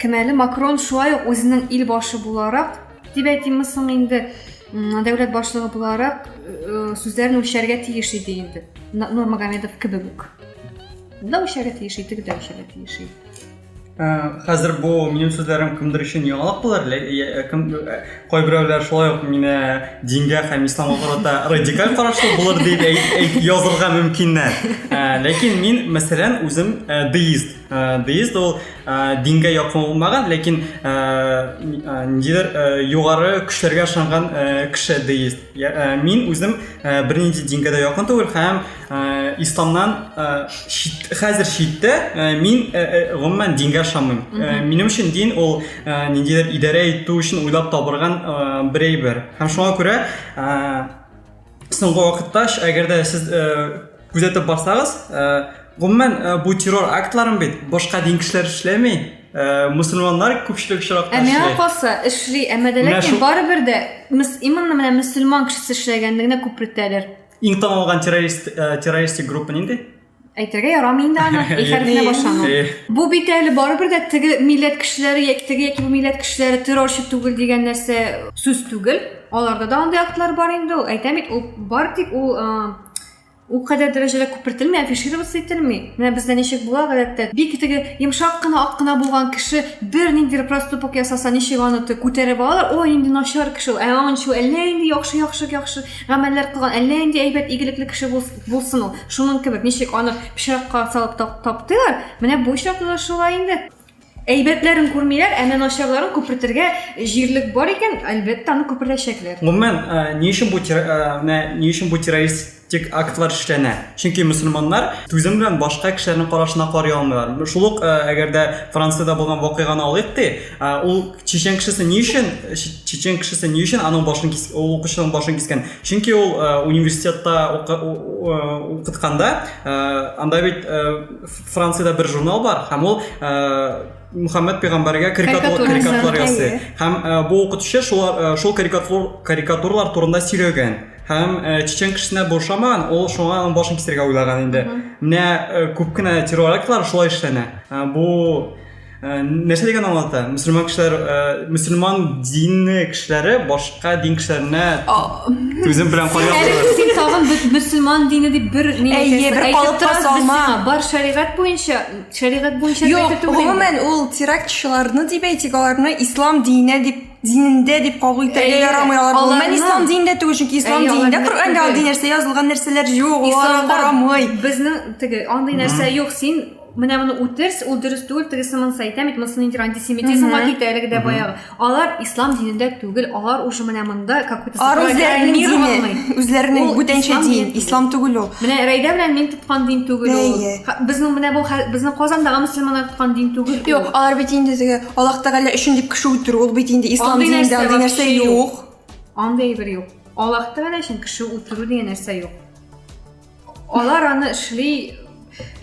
кем әле макрон шулай ук үзенең ил башы буларак дип әйтимме соң инде дәүләт башлыгы буларак э, сүзләрен үлчәргә тиеш иде инде нурмагомедов кебек үк да үлчәргә тиеш иде теге дә үлчәргә тиеш иде хәзер бу минем сүзләрем кемдер өчен яңалык булыр кем кайберәүләр шулай ук мине дингә һәм исламга карата радикаль карашлы булыр дип язырга мөмкиннәр ләкин мин мәсәлән үзем деист деист ул дингә якын булмаган ләкин ниндидер югары көчләргә ышанган кеше деист Э, мин үзем э, бернинди дингә дә якын түгел һәм э, исламнан хәзер читтә мин гомумән дингә ышанмыйм минем өчен дин ул ниндидер идарә итү өчен уйлап табылган бер әйбер һәм шуңа күрә соңгы вакытта әгәр дә сез Күзәтеп барсагыз, гомумән бу террор актларын бит башка дин кешеләр эшләми, мусульманнар күпчелек очракта эшли. Ә миңа калса, эшли, әмма дә ләкин барыбер дә именно менә мусульман кешесе эшләгәнне генә күпрәк тәлер. Иң танылган террорист террористик группа нинди? Әйтергә ярамый инде аны, и хәрефенә башлану. Бу бит әле барыбер дә теге милләт кешеләре яки теге яки бу милләт кешеләре террорчы түгел дигән нәрсә сүз түгел. Аларда да андый актлар бар инде ул. Әйтәм бит, ул бар тик ул Ул кадәр дәрәҗәдә күпертелми, афишироваться ителми. Менә бездә ничек була гадәттә. Бик теге йомшак кына, ак кына булган кеше бер нинди проступок ясаса, ничек аны күтәреп алалар? О, инде начар кеше ул. Ә аны ничек әллә инде яхшы, яхшы, яхшы гамәлләр кылган, әллә инде әйбәт, игелекле кеше булсын ул. Шуның кебек, ничек аны пычракка салып таптыйлар, менә бу очракта да шулай инде. Әйбәтләрен күрмиләр, әнә начарларын күпертергә җирлек бар икән, әлбәттә, аны күпертәчәкләр. Гомумән, э, ни өчен бу э, менә ни өчен бу террористик актлар эшләнә? Чөнки мөселманнар түзем белән башка кешеләрнең карашына карый алмыйлар. Шул ук, э, әгәр дә Франциядә булган вакыйганы алыйк ди, ул чечен кешесе ни өчен чечен кешесе ни өчен аның башын кис, ул укучының башын кискән? Чөнки ул университетта укытканда, анда бит Франциядә бер журнал бар, һәм ул Мухаммед пәйгамбәргә карикатур карикатур ясый. Һәм бу укытучы шул шул карикатур карикатурлар турында сөйләгән. Һәм чечен кешесенә бу ошамаган, ул шуңа аның башын кисәргә уйлаган инде. Менә күп кенә террор актлар шулай эшләнә. Бу Э, нәрсә дигән аңлата мөселман кешеләр э, мөселман дины кешеләре башка дин кешеләренә түзем белән карыйлар син тагын мөселман дины дип бер әйе бер калыпка салма бар шәригать буенча шәригать буенча юк гомумән ул терактчыларны дип әйтик аларны ислам диненә дип динендә дип кабул итәргә ярамый алар гомумән ислам динендә түгел чөнки ислам динендә коръәндә андый нәрсә язылган нәрсәләр юк алар карамый безнең теге андый нәрсә юк син менә моны үтерс ул дөрес түгел тегесе монысы әйтә бит монысы ниндидер антисемитизмга китә әлеге дә баягы алар ислам динендә түгел алар уже менә монда как будто үзләренең бүтәнчә дин ислам түгел ул менә рәйдә белән мин тоткан дин түгел ул безнең менә бу безнең казандагы мөселманнар тоткан дин түгел юк алар бит инде теге аллах тәгалә өчен дип кеше үтерү ул бит инде ислам динендә андый нәрсә юк андый бер юк аллах тәгалә өчен кеше үтерү дигән нәрсә юк Алар аны эшли,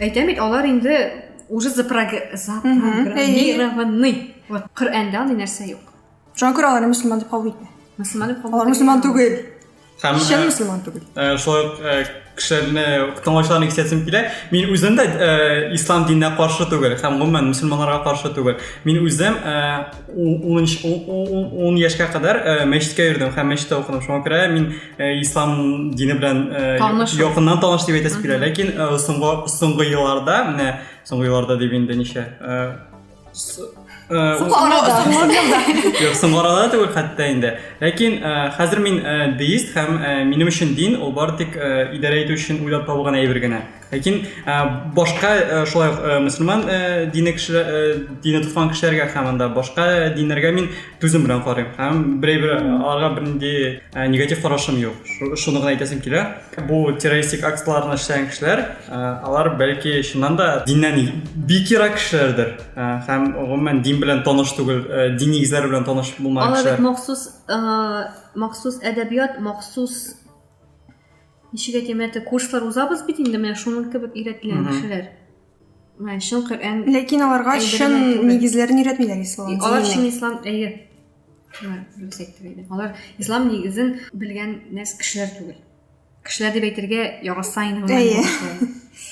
әйтәм бит, алар инде уже запрограммированный. Вот Коръәндә андый нәрсә юк. Шуңа күрә аларны мөселман дип кабул итмә. Мөселман дип кабул Алар мөселман түгел. Һәм Чын мөселман түгел. Шулай ук кешеләрне тыңлаучыларны кисәсем килә. Мин үзем дә ислам диненә каршы түгел һәм гомумән мөселманнарга каршы түгел. Мин үзем 10 яшькә кадәр мәчеткә йөрдем һәм мәчеттә укыдым. Шуңа күрә мин Э, ислам дине белән э, таныш якыннан таныш дип әйтәсе килә ләкин э, соңгы соңгы елларда менә соңгы елларда дип инде ничә соңгы арада юк соңгы арада түгел хәтта инде ләкин хәзер мин деист һәм минем өчен дин ул бары тик идарә итү өчен уйлап табылган әйбер генә Ләкин башка шулай ук мөселман дине кешеләр, дине тотмаган кешеләргә һәм анда башка диннәргә мин түзем белән карыйм. Һәм берәй-бер аларга бернинди негатив карашым юк. Шуны гына әйтәсем килә. Бу террористик актларны эшләгән кешеләр, алар бәлки чыннан да диннән бик ерак кешеләрдер. Һәм гомумән дин белән таныш түгел, дин нигезләре белән таныш булмаган кешеләр. Алар бит махсус, махсус әдәбият, махсус Ничек әйтим, әтә курслар узабыз бит инде, менә шуның кебек өйрәтелгән кешеләр. Менә чын Коръән. Ләкин аларга чын нигезләрен өйрәтмиләр ислам. Алар чын ислам, әйе. Алар ислам нигезен белгән нәрс кешеләр түгел. Кешеләр дип әйтергә яраса инде. Әйе.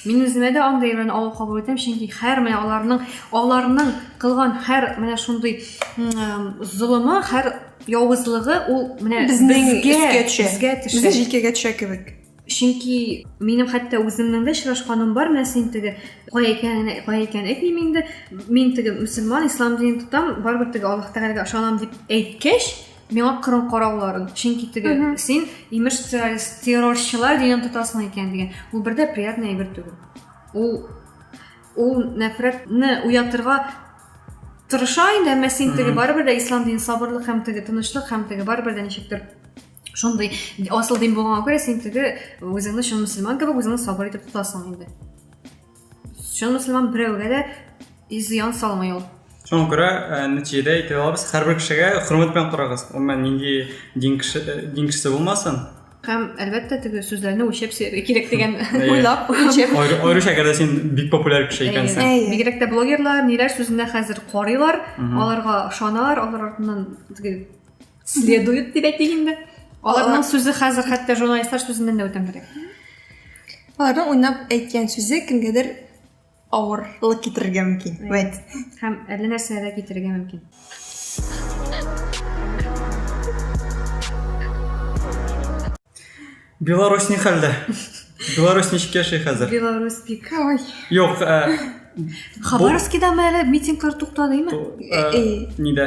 Мин үземә дә андый мәне авыр кабул итәм, чөнки хәр менә аларның аларның кылган хәр менә шундый золымы, хәр явызлыгы ул менә безнең өскә төшә. Безгә төшә. Безгә җилкәгә төшә кебек. Чөнки минем хәтта үземнең дә очрашканым бар, менә син теге кая икәнен, кая икәнен әйтмим инде. Мин теге мөселман, ислам динен тотам, барыбер теге Аллаһ Тәгаләгә ышанам дип әйткәч, миңа кырым карауларын чөнки теге син имеш террорист террорчылар дигән тотасың икән дигән ул бер дә приятный әйбер түгел ул ул нәфрәтне уятырга тырыша инде әмма син теге барыбер дә ислам дин сабырлык һәм теге тынычлык һәм теге барыбер дә ничектер шундый асыл дин булганга күрә син теге үзеңне чын мөселман кебек үзеңне сабыр итеп тотасың инде Шуны мөселман берәүгә дә зыян салмый ул. Шуңа күрә э, нәтиҗәдә әйтә алабыз, һәрбер кешегә хөрмәт белән карагыз. Гомумән нинди дин кеше э, дин кешесе булмасын. Һәм әлбәттә теге сүзләрне үлчәп сөяргә кирәк дигән Әйе. уйлап үлчәп. Аеры- Аеруча әгәр дә син бик популяр кеше икәнсең. Әйе. Бигрәк тә блогерлар ниләр сүзенә хәзер карыйлар, Мгм. аларга ышаналар, алар артыннан теге следует дип әйтик инде аларның сүзе хәзер хәтта журналистлар сүзеннән дә үтәмрәк аларның уйнап әйткән сүзе кемгәдер авырлык китерергә мөмкин вәт һәм әллә нәрсә дә китерергә мөмкин беларусь ни хәлдә беларусь ничек яши хәзер беларусь бик ой юк хабаровскидамы әле митинглар туктадымы нидә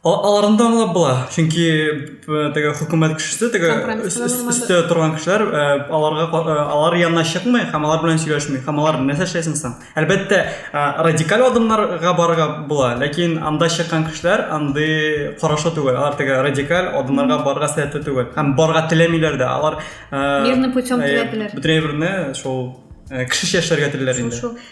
Аларны да аңлап була, чөнки э, теге хөкүмәт кешесе, теге өстә торган кешеләр э, аларга э, алар янына чыкмый һәм алар белән сөйләшми. Һәм алар нәрсә эшләсен соң? Әлбәттә, радикаль адымнарга барырга була, ләкин анда чыккан кешеләр андый карашы түгел. Алар теге радикаль адымнарга барырга сәләтле түгел. Һәм барырга теләмиләр дә. Алар мирный путем теләделәр. Бөтен әйберне шул кешечә эшләргә телиләр инде. Шул, шул.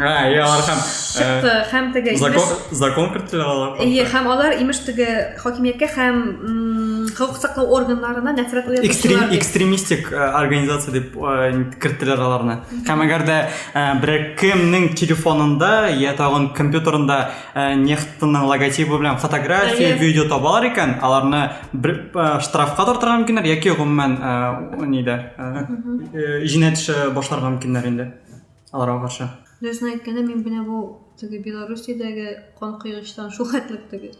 А, и алар һәм чыкты э, һәм теге закон закон кертте алар. Ие, һәм алар имеш теге хакимияткә һәм хокук саклау органнарына нәфрәт уятучылар. Экстремистик э, организация дип э, керттеләр аларны. Һәм әгәр дә берәр кемнең телефонында я тагын компьютерында нефтның логотибы белән фотография, видео табалар икән, аларны штрафка тартырга мөмкиннәр яки гомумән нидә? Җинаять эше башларга мөмкиннәр инде. Аларга каршы. Дөресен әйткәндә, мин менә бу теге Белоруссиядәге кан куйгычтан шул хәтлек теге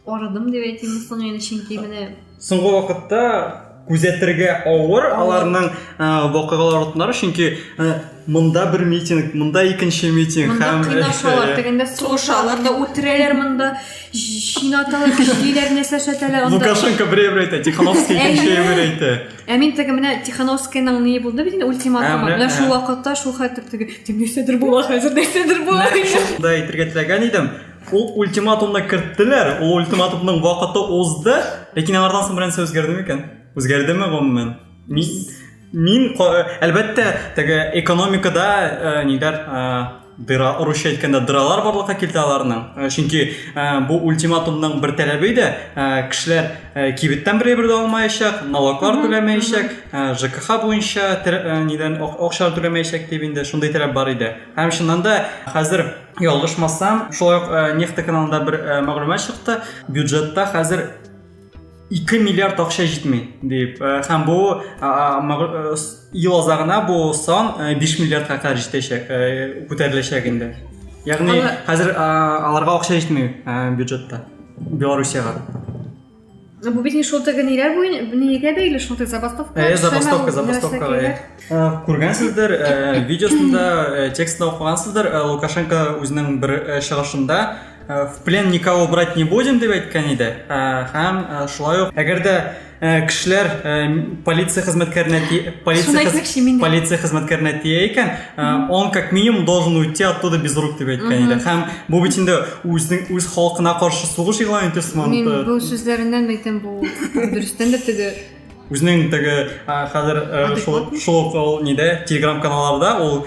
арыдым дип әйтим соң инде, чөнки менә соңгы вакытта күзәтергә авыр аларның э, вакыйгалар отнары чөнки э, монда бер митинг монда икенче митинг монда һәм кыйнашалар тегендә сугышалар да үтерәләр монда чинаталар көчлиләр нәрсә эшләтәләр лукашенко берәү әйтә тихановский икенче әйтә Ә мин теге менә Тихановскийның ни булды бит инде ультиматумы. Ә, менә, менә шул ә. вакытта шул хәтер теге тем нәрсәдер була хәзер нәрсәдер була. Шунда әйтергә теләгән идем. Ул ультиматумны керттеләр, ул ультиматумның вакыты узды, ләкин аңардан соң бернәрсә үзгәрде микән? Үзгәрдеме гомумән? Мин мин әлбәттә теге экономикада э, ниләр э, дыра урысча әйткәндә дыралар барлыкка килтә аларның э, чөнки э, бу ультиматумның бер таләбе иде э, кешеләр кибеттән бер әйбер дә алмаячак налоглар түләмәячәк жкх буенча нидән акча түләмәячәк дип инде шундый таләп бар иде һәм чыннан да хәзер ялгышмасам шулай ук нефть каналында бер мәгълүмат чыкты бюджетта хәзер 2 миллиард акча җитми дип э, һәм бу э, ел азагына бу сан 5 э, миллиардка кадәр җитәчәк күтәреләчәк инде ягъни хәзер аларга акча җитми бюджетта белоруссиягә бу бит не шулта генераль буен нигә бәйле шулта забастовка э забастовка забастовка э күргәнсездер э видеосында э, текстны укыгансыздыр э, лукашенко үзенең бер э, чыгышында Э, в плен никого брать не будем деп әйткән иде һәм э, э, шулай ук әгәр дә кешеләр полиция хезмәткәренә полиция полиция хезмәткәренә тия икән он как минимум должен уйти оттуда без рук дип әйткән иде һәм бу бит инде үзенең үз халкына каршы сугыш игълан итү сыман мин бу сүзләреннән әйтәм бу дөрестән дә теге Үзенең теге хәзер шул ул нидә телеграм каналларда ул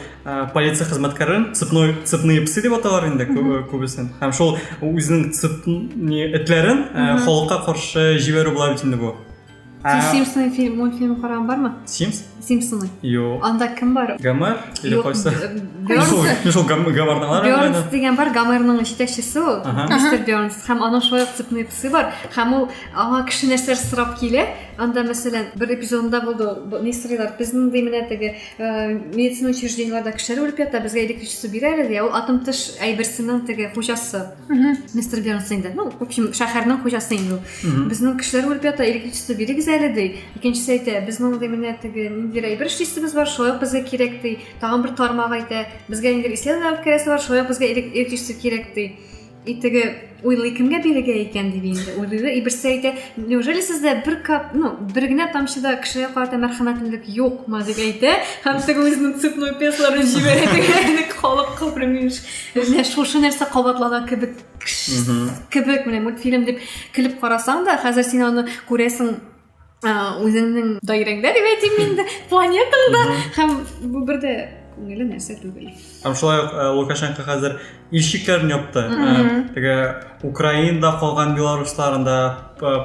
полиция хезмәткәрен цепной цепные псы дип аталар инде күбесен. Һәм шул үзенең цепни этләрен халыкка каршы җибәрү була бит инде бу. Сез Симпсоны фильм, мультфильм караган бармы? Симпс? Симпсоны. Юк. Анда кем бар? Гомер или кайсы? Мин шул Гомерны бар. Бернс дигән бар, Гомерның җитәкчесе ул, мистер Бернс. Һәм аның шулай ук цепные псы бар. Һәм ул Аңа кеше нәрсәләр сорап килә. Анда, мәсәлән, бер эпизодында булды, ни сорыйлар, без мондый менә теге э, медицина учреждениеләрдә кешеләр үлеп ята, безгә электричество бирә әле, ди. Ә ул атом тыш әйберсенең теге хуҗасы. Мистер Бернс инде. Ну, в общем, шәһәрнең хуҗасы инде ул. Безнең кешеләр үлеп ята, электричество бирегез әле, ди. Икенчесе әйтә, без мондый менә теге ниндидер әйбер эшлисебез бар, шулай ук безгә кирәк, ди. Тагын бер тармак әйтә, безгә инде исән алып керәсе бар, шулай ук безгә элек- электричество кирәк, ди. И теге уйлый кемгә бирергә икән дип инде уйлыйлар и берсе әйтә неужели сездә бер кап ну бер генә тамчы да кешегә карата мәрхәмәтлелек юкмы дип әйтә һәм теге үзенең цепной песларын җибәрә теге халык кабры мимеш менә шушы нәрсә кабатлана кебек кебек менә мультфильм дип көлеп карасаң да хәзер син аны күрәсең үзеңнең даирәңдә дип әйтим инде планетаңда һәм бу бер дә күңелле нәрсә түгел һәм шулай ук лукашенко хәзер илчекләрен япты теге украинада калган белорусларында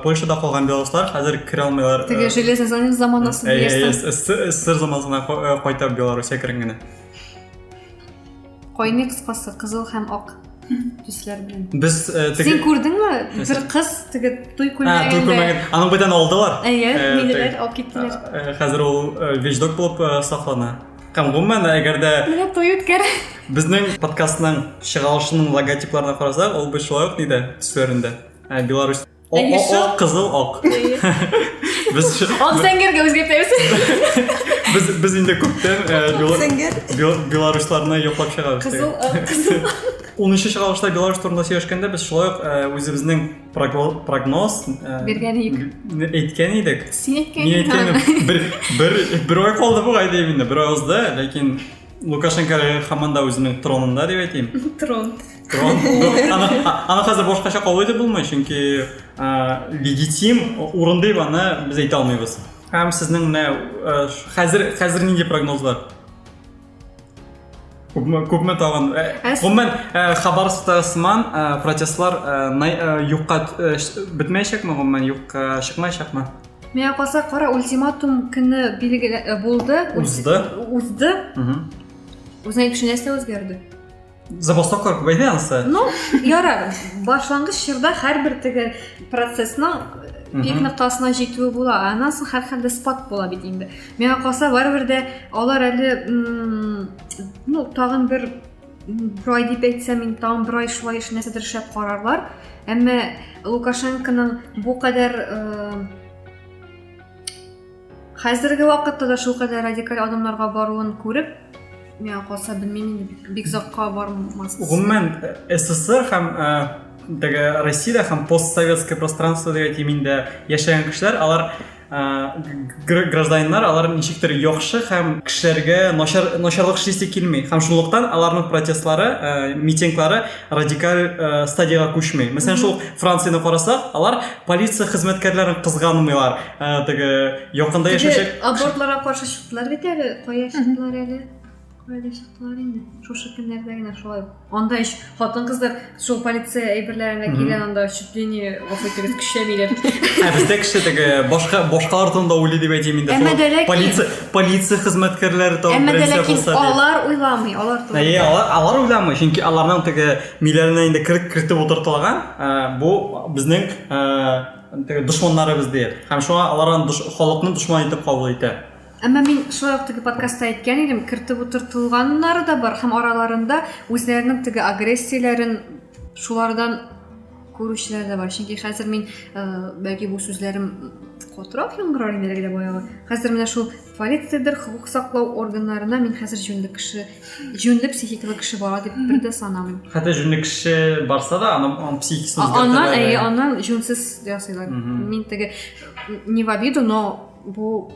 польшада калган белоруслар хәзер керә алмыйлар теге железный занавес заманасы ссср заманасына кайта белоруссия кергәнгә Кайный кыскасы кызыл һәм ак төсләр белән. Без э, теге... Син күрдеңме? Бер кыз теге туй күлмәгендә. Туй күлмәген. Аның бүтән алдылар. Әйе, э, минеләр алып киттеләр. Э, хәзер ул вещдок булып саклана. Һәм гомумән, әгәр дә... Менә той үткәр. Безнең подкастның чыгарылышының логотипларына карасак, ул бит шулай ук нидә төсләрендә. Беларусь О, о, о, кызыл ак. Без Ак зәңгәргә үзгәртәбез. без без инде күптән э, бела- Зәңгәр. бел- белорусларны яклап чыгабыз. Кызыл, ак, кызыл. 13 чыгарылышта Беларусь турында сөйләшкәндә без шулай ук э, үзебезнең прогно- прогноз э, Биргән идек. н- әйткән идек. Син әйткән Мин идең. әйткәнем бер бер бер ай калды бугай дип инде, бер ай узды, ләкин лукашенко һаман да үзенең тронында дип әйтим трон трон аны хәзер башкача кабул итеп булмый чөнки легитим урын дип аны без әйтә алмыйбыз һәм сезнең менә хәзер хәзер нинди прогноз бар күпме күпме тагын гомумән хабаровскта сыман протестлар юкка бетмәячәкме гомумән юкка чыкмаячакмы Миңа калса, кара ультиматум көне билгеле э, булды. Узды. Узды. Үзенә кеше нәрсә үзгәрде? Забастовкалар күбәйде анысы. Ну, ярар. Башлангыч чорда һәрбер теге процессның пик ноктасына җитүе була. Аннан соң һәрхәлдә спад була бит инде. Миңа калса, барыбер дә алар әле ну, тагын бер Брай дип әйтсә, мин тагын брай шулай эш нәрсәдер шәп карарлар. Әмма Лукашенконың бу кадәр хәзерге вакытта да шул кадәр радикаль адымнарга баруын күреп, миңа калса белмим, бик озакка бармас. Гомумән СССР һәм теге Россиядә һәм постсоветское пространство дигән миндә яшәгән кешеләр, алар гражданиннар алар ничектер яхшы һәм кешеләргә начар начарлык эшлисе килми һәм шунлыктан аларның протестлары ә, митинглары радикаль ә, стадиягә күчми мәсәлән шул францияне карасак алар полиция хезмәткәрләрен кызганмыйлар ә, теге якында яшәүче абортларга каршы чыктылар бит әле кая чыктылар әле Кая да чыктылар инде. Шушы көннәрдә генә шулай. Анда ич хатын-кызлар шул полиция әйберләренә кигән анда чуть ли не гафу итегез көчәмиләр. Ә бездә кеше теге башка башкалар турында уйлый дип әйтим инде. Әмма Шул дә ләкин- Полиция полиция хезмәткәрләре тагын Әмма дә беренче ләкин булса дип. алар уйламый, алар Ә, турында. Е, алар, алар уйламый, чөнки аларның теге миләренә инде кер- кертеп утыртылган, ә, бу безнең ә, теге дошманнарыбыз диеп. Һәм шуңа алар аны душ, халыкны дошман итеп кабул итә. Әмма мин шулай ук теге подкастта әйткән идем, кертеп утыртылганнары да бар һәм араларында үзләренең теге агрессияләрен шулардан күрүчеләр дә бар. Чөнки хәзер мин э, бәлки бу сүзләрем котрак яңгырар инде әлегә баягы. Хәзер менә шул полициядер, хокук саклау органнарына мин хәзер җүнле кеше, җүнле психикалы кеше бара дип бер дә санамыйм. Хәтта җүнле кеше барса да, аның аның психикасын үзгәртәләр. Аннан, әйе, аннан җүнсез ясыйлар. Мин теге не в обиду, но Бу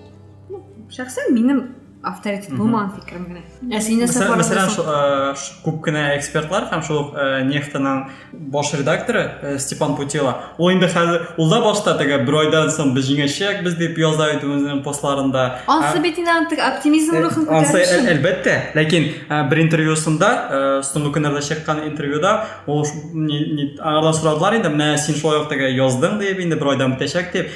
шәхсән минем авторитет булмаган фикерем генә. Ә син нәрсә карадың? Мәсәлән, күп кенә экспертлар һәм шул нефтаның баш редакторы Степан Путила, ул инде хәзер ул да башта теге бер айдан соң без җиңәчәк без дип яза иде үзенең постларында. Ансы бит инде андый оптимизм рухын күтәрү өчен. Әлбәттә, ләкин бер интервьюсында, соңгы көннәрдә чыккан интервьюда ул аңардан сорадылар инде, менә син шулай ук теге яздың дип, инде бер айдан бетәчәк дип,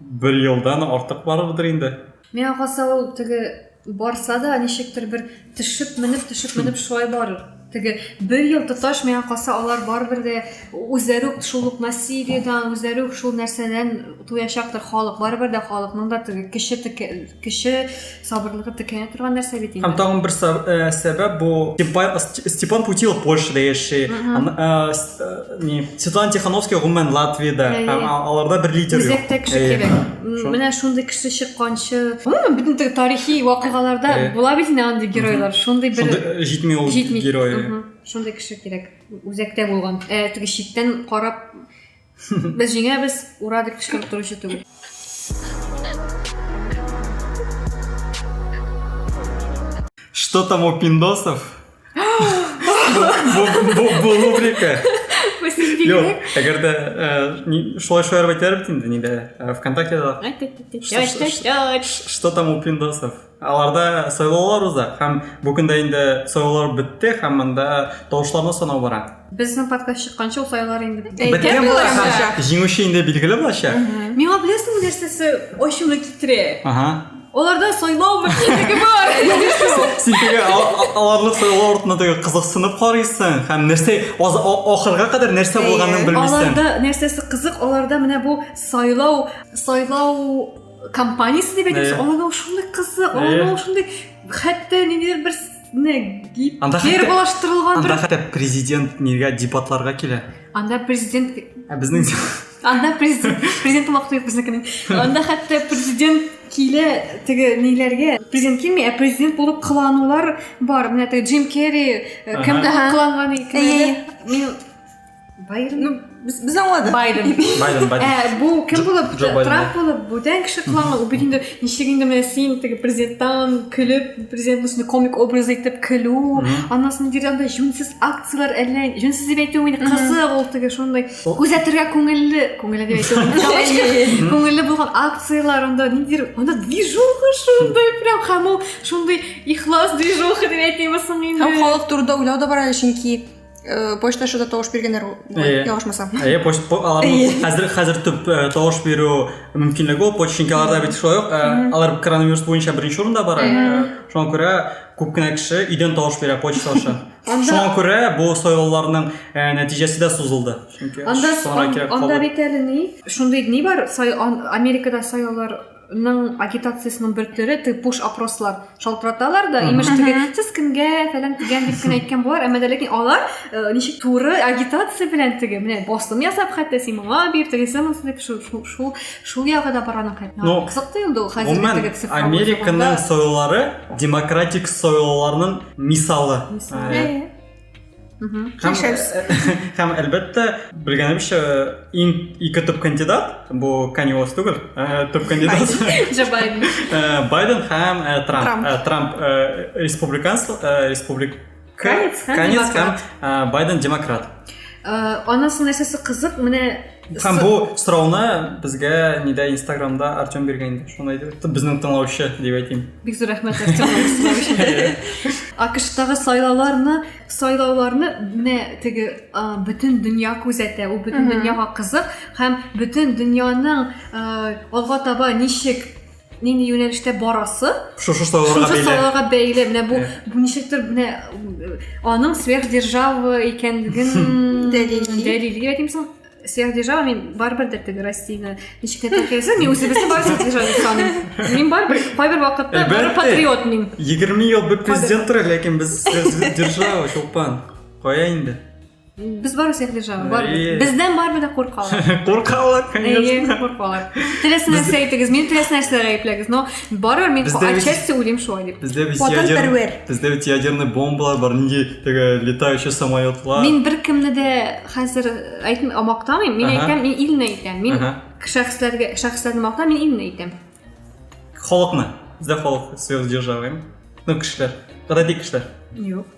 Бер елдан артык барырдыр инде. Миңа калса ул теге барса да ничектер бер төшеп менеп төшеп менеп шулай барыр. Теге бер ел тоташ миңа калса алар барыбер дә үзләре үк шул ук насилиедән, үзләре үк шул нәрсәдән туячактыр халык. Барыбер дә халыкның да теге кеше кеше сабырлыгы текәя торган нәрсә бит инде һәм тагын бер э, сәбәп бу степан путилов польшада яши э, э, не светлана тихановская гомумән латвияда һәм аларда бер лидер юк үзәктә кеше кирәк менә шундый кеше чыкканчы гомумән бөтен тарихи вакыйгаларда була бит инде андый геройлар шундый бер җитми ул герой шундый кеше кирәк үзәктә булган ә теге читтән карап Без җиңәбез, ура дип кычкырып торучы түгел. Что там у пиндосов? Бу рубрика. Юк, әгәр дә шулай шулай әйтәр бит инде, нидә, ВКонтакте да. Что там у пиндосов? Аларда сайлаулар уза һәм бу көндә инде сайлаулар бетте һәм монда тавышларны санау бара. Безнең подкаст чыкканчы ул сайлаулар инде беткән булачак. Җиңүче инде билгеле булачак. Миңа беләсеңме нәрсәсе ачуны китерә? Ага. Аларда сайлау мөмкинлеге бар. Син теге аларны сайлау артына теге кызыксынып карыйсың һәм нәрсә ахырга кадәр нәрсә булганын белмисең. Аларда нәрсәсе кызык, аларда менә бу сайлау, сайлау компаниясе дип әйтәбез ана ошондой кызы ана ошондой хәтта ниндидер бер анда фермалаштырылган анда хәтта президент нигә дебатларга килә анда президент ә безнең анда президент президент вакыты юк безнекенең анда хәтта президент килә теге ниләргә президент килми ә президент булып кыланулар бар менә теге джим керри кемгә кыланган икән мин Байден. Ну, без, без аңладык. Байден. Байден, Байден. Ә, бу кем булып, Трамп булып, бүтән кеше планы, бу инде ничек инде менә син теге президенттан көлеп, президент үсне комик образ итеп көлү, аннан соң нидер анда җүнсез акцияләр әллә, җүнсез дип әйтү мин кызык ул теге шундый. Күзәтергә күңелле, күңелле дип әйтү. Күңелле булган акцияләр анда нидер, анда движуха шундый прям һәм ул шундый ихлас движуха дип әйтимме соң инде. Һәм халык турында уйлау да бар әле, чөнки Э, почта шуда тавыш биргәннәр э, ялгышмасам иә почта аларның хәзер хәзер төп э, тавыш бирү мөмкинлеге ул почта чөнки аларда бит шулай ук алар коронавирус буенча беренче урында бара шуңа күрә күп кенә кеше өйдән тавыш бирә почта аша шуңа күрә бу сайлауларның нәтиҗәсе дә сузылды чөнки анда бит әле ни шундый ни бар америкада сайлаулар ның агитациясенең бер төре ты пуш опрослар шалтыраталар да имеш теге сез кемгә фәлән дигән дип кенә әйткән болар әмма ләкин алар э, ничек туры агитация белән теге менә басым ясап хәтта син моңа бир тегесе монысы дип шул шул шул ягы да бара аның ну кызыклы инде ул хәзерге американың союлары демократик союларның мисалы мисалы э, Һәм, һәм әлбәттә, белгәнемчә, иң ике төп кандидат, бу Kanye West түгел, ә, төп кандидат. Джо Байден. Ә, Байден һәм ә, Трамп. Трамп. Ә, Трамп ә, республиканс, ә, республик... Канец һәм, Канец һәм демократ. ә, Байден демократ. Ә, анасының нәрсәсе кызык, менә Һәм бу сорауны безгә нидә Инстаграмда Артем биргән инде. Шуны әйтеп, безнең тыңлаучы дип әйтим. Бик зур рәхмәт Артем АКШтагы сайлауларны, сайлауларны менә теге бөтен дөнья күзәтә, ул бөтен дөньяга кызык һәм бөтен дөньяның алга таба ничек нинди юнәлештә барасы шушы сайларга бәйле сайларга бәйле менә бу бу ничектер менә аның сверхдержава икәнлеген дәлилли әйтимсең сверхдержава мен барыбер дә теге россияны ничек кенә тәкәлсә мен үзебезне бар сверхдержава дип саныйм мин барыбер кайбер вакытта бары патриот мин егерме ел бер президент тора ләкин без сверхдержава чулпан кая инде Без бары всех держава, бар. Бездән барыбер дә куркалар. Куркалар, конечно. Әйе, куркалар. Теләсә нәрсә әйтегез, мин теләсә нәрсә әйпләгез, но бары мин отчасти уйлыйм шулай дип. Бездә бит ядер. Бездә бит ядерный бомбалар бар, нинди теге летающий самолетлар. Мин бер кемне дә хәзер әйтмим, амактамыйм. Мин әйтәм, мин илне әйтәм. Мин шәхесләргә, шәхесләрне мактам, мин илне әйтәм. Халыкны. Бездә халык сверхдержавы. Ну, кешеләр. Радик кешеләр. Юк.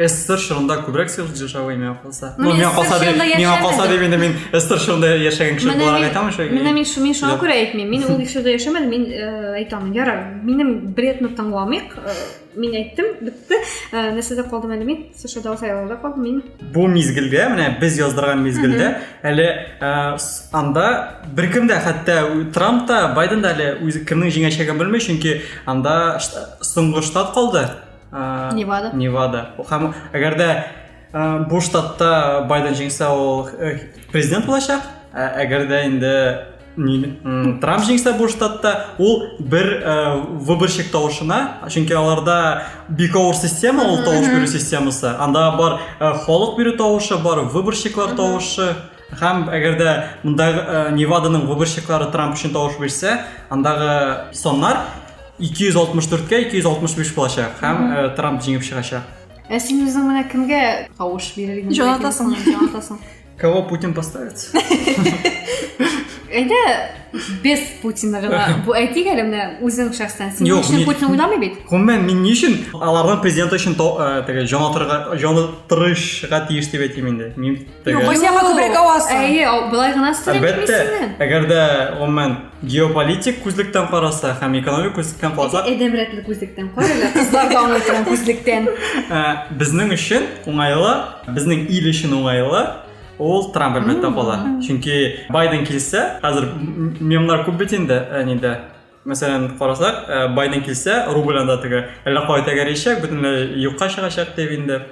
СССР шырында күбрәк сөйләп җырчавы миңа калса. Ну, миңа калса дип, миңа калса дип инде мин СССР шырында яшәгән кеше буларак әйтәм шул. Менә мин шуны шуңа күрә әйтмим. Мин ул ишелдә яшәмәдем, мин э, әйтәм. Яра, минем бредны тыңламыйк. Э, мин әйттем, бетте. Э, нәрсәдә калдым әле мин? Сушада сайлауда калдым мин. Бу мизгелдә, менә без яздырган мизгелдә, әле анда беркем дә хәтта Трамп та, Байден да әле үзе кемнең җиңәчәген белми, чөнки анда соңгы штат калды. ә, невада невада һәм әгәр дә ә, бу штатта байден җиңсә ул э, президент булачак ә, әгәр дә инде трамп җиңсә бу штатта ул бер ә, выборщик тавышына чөнки аларда бик авыр система ул тавыш бирү системасы анда бар ә, халык бирү тавышы бар выборщиклар тавышы Һәм әгәр дә монда Неваданың выборщиклары Трамп өчен тавыш бирсә, андагы саннар 264-кә 265 булачак һәм Трамп җиңеп чыгачак. Ә син үзең менә кемгә тавыш бирергә? Җонатасың, җонатасың. Кого Путин поставит? Әйдә, без Путинны гына бу әйтик әле менә үзең шәхсән. Син өчен Путин уйламый бит. Гомумән мин ни өчен аларның президенты өчен теге җан атырга, җан тырышга тиеш дип әйтим инде. Мин Юк, без яңа күбрәк авасы. Әйе, былай гына Әлбәттә, әгәр дә гомумән геополитик күзлектән караса һәм экономик күзлектән караса, әдәм рәтле күзлектән карыйлар, кызлар да аңлый торган күзлектән. Ә, Безнең өчен уңайлы, безнең ил өчен уңайлы ул Трамп әлбәттә кала. Чөнки Байден килсә, хәзер мемнар күп бит инде, ә нидә Мәсәлән, карасак, э, Байден килсә, рубль анда теге әллә кая тәгәрәячәк, бөтенләй юкка чыгачак дип инде.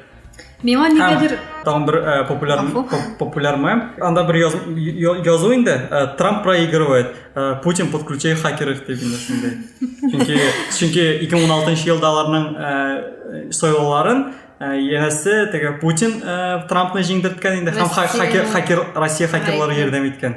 Миңа нигәдер тагын бер э, популяр популяр мем. Анда бер яз, язу инде, э, Трамп проигрывает, э, Путин подключай хакеров дип инде шундый. Чөнки чөнки 2016 елда аларның э, сайлауларын э, янәсе теге Путин э, Трампны җиңдерткән инде һәм хакер хакер Россия хакерлары ярдәм иткән.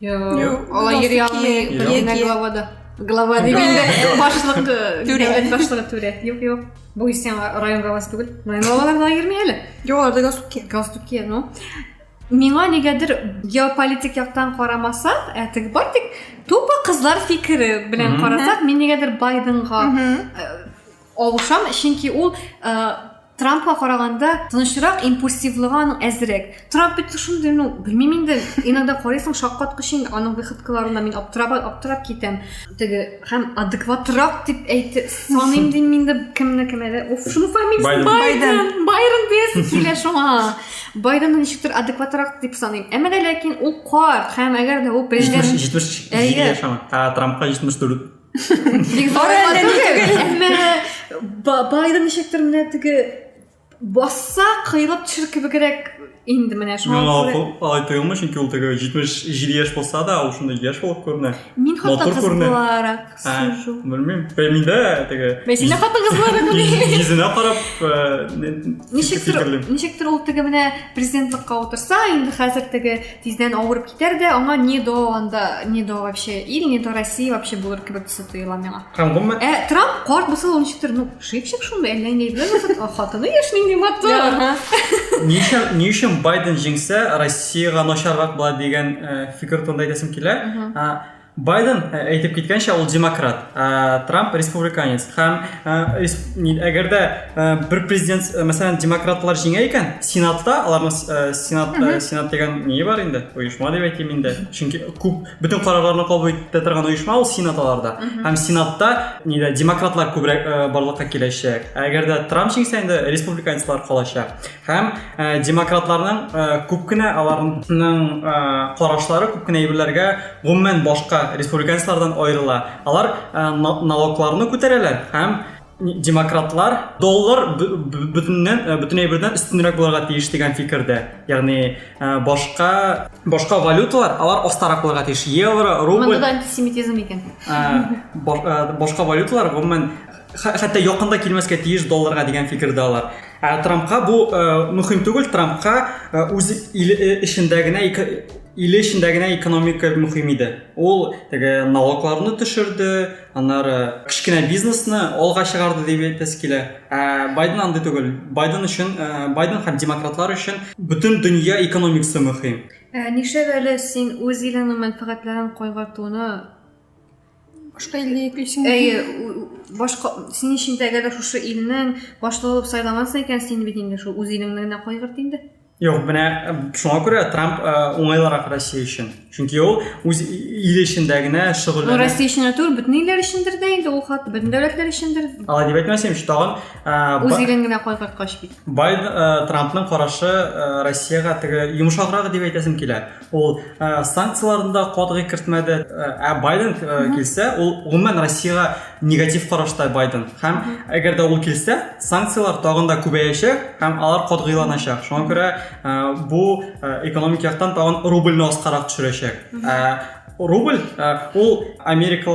Юк, алай йөри алмый. Генә главада. Глава дигәндә башлык түрә. Дәүләт башлыгы түрә. Юк, юк. Бу исән район главасы түгел. Район главалары да йөрми әле. Юк, аларда галстук кия. Галстук кия, ну. Миңа нигәдер геополитик яктан карамаса, ә теге бар тик тупо кызлар фикере белән карасак, мин нигәдер Байденга Алышам, чөнки ул Трампка караганда тынычрак, импульсивлыгы аның әзрәк. Трамп бит шундый, ну, белмим инде, иногда карыйсың шаккаткыч инде аның выходкаларына мин аптырап, аптырап китәм. Теге һәм адекватрак дип әйтте, саныйм дим мин дә кемне кем әле. Уф, шуның фамилиясе Байден. Байрон диясем килә шуңа. Байденны ничектер адекватрак дип саныйм. Әмма ләкин ул карт һәм әгәр дә ул президент 70 яшәгән, Трампка 74 байды ничектер менә теге басса кыйлып төшер кебегрәк инде менә шуңа күрә алай тоелмый чөнки ул теге җитмеш җиде яшь булса да ул шундай яшь булып күренә мин хатын кыз буларак сужу белмим миндә теге мен сине хатын кыз буларак уйлыйм йөзенә карап ничектер ничектер ул теге менә президентлыкка утырса инде хәзер теге Тиздән авырып китәр дә, аңа не до анда, не до вообще ил, не до России вообще булыр кебек төсе тоела миңа. Һәм гомумән Ә Трамп карт булса да ул ничектер, ну, шипчик шундый, әллә инде әйберләр булса, а хатыны яшь нинди матур. Ага. ни өчен ни өчен Байден җиңсә, Россиягә начаррак була дигән э, фикер турында әйтәсем килә. Мгм. А, Байден ә, әйтеп киткәнчә ул демократ, ә, Трамп республиканец. Һәм ә, респ... ни- әгәр дә ә, бер президент, ә, мәсәлән, демократлар җиңә икән, сенатта аларның с- ә, сенат ә, сенат дигән ни бар инде? Оешма дип әйтим инде. Чөнки күп бөтен карарларны кабул итә торган оешма ул сенат аларда. Һәм сенатта нидә демократлар күбрәк ә, барлыкка киләчәк. Ә әгәр дә Трамп җиңсә инде республиканецлар калачак. Һәм ә, демократларның ә, күп кенә аларның ә, карашлары күп кенә әйберләргә гомумән башка республиканецлардан аерыла. Алар ә, налогларны күтәрәләр һәм демократлар доллар бөтеннән э, бөтен әйбердән өстенрәк булырга тиеш дигән фикердә. Ягъни э, башка башка валюталар алар астарак булырга тиеш. Евро, рубль. Монда да антисемитизм икән. Э, башка валюталар гомумән хәтта якында килмәскә тиеш долларга дигән фикердә алар. Ә Трампка бу э, мөһим түгел, Трампка э, үз иле э, эчендә генә иле эчендә генә экономика мөһим иде. Ул теге налогларны төшерде, аннары кечкенә бизнесны алга чыгарды дип әйтәсе килә. Ә Байден андый түгел. Байден өчен, Байден һәм демократлар өчен бөтен дөнья экономикасы мөһим. Ә нишләп әле син үз илеңнең мәнфәгатьләрен кайгыртуны башка илгә йөклисең әйе башка син өчен әгәр шушы илнең башлыгы булып сайламасын икән син бит инде шул үз илеңне генә кайгырт инде Юк, менә шуңа күрә Трамп уңайлырак Россия өчен. Чөнки ул үз иле эчендә генә шөгыльләнә. Ну, Россия өчен түгел, бөтен илләр өчендер дә инде ул хат, бөтен дәүләтләр өчендер. Алай дип әйтмәсәм, тагын үз илен генә кайгырткач бит. Бай Трампның карашы Россиягә теге йомшаграк дип әйтәсем килә. Ул ә, санкцияләрне дә катгый кертмәде. Ә Байден килсә, ул гомумән Россиягә негатив карашта Байден. Һәм әгәр дә ул килсә, санкцияләр тагын да күбәячәк һәм алар катгыйланачак. Шуңа күрә бу экономик яктан тагын рубльне аскарак төшерәчәк. Ә рубль ул Америка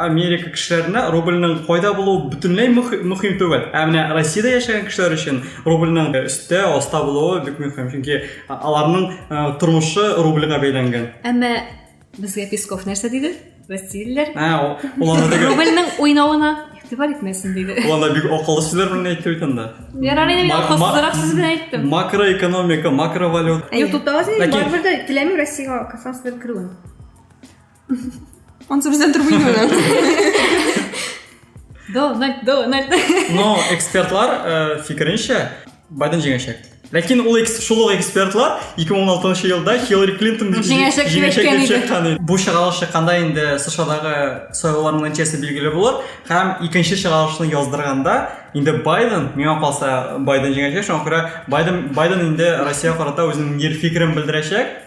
Америка кешеләренә рубльның кайда булуы бөтенләй мөһим түгел. Ә менә Россиядә яшәгән кешеләр өчен рубльның өстә, аста булуы бик мөһим. Чөнки Аларның тормышы рубльга бәйләнгән. Әмма безгә Песков нәрсә диде? Россиялеләр. Ә, ул рубльның уйнавына игътибар итмәсен диде. Ул анда бик акыллы сүзләр белән әйтте бит анда. Ярар инде мин акылсызрак сүз белән әйттем. Макроэкономика, макровалюта. Ютубта азин барыбер дә теләмим Россиягә Казахстаннан керүен. Он собственно турбинуны. Дональд, Дональд. Но экспертлар э, фикеренчә Байден җиңәчәк. Ләкин ул шул ук экспертлар 2016 елда Хиллари Клинтон җиңәчәк дип әйткән иде. Бу чыгарылыш чыкканда инде СШАдагы сайлауларның нәтиҗәсе билгеле булыр һәм икенче чыгарылышны яздырганда инде Байден, миңа калса Байден җиңәчәк, шуңа күрә Байден Байден инде Россия карата үзенең ир фикерен белдерәчәк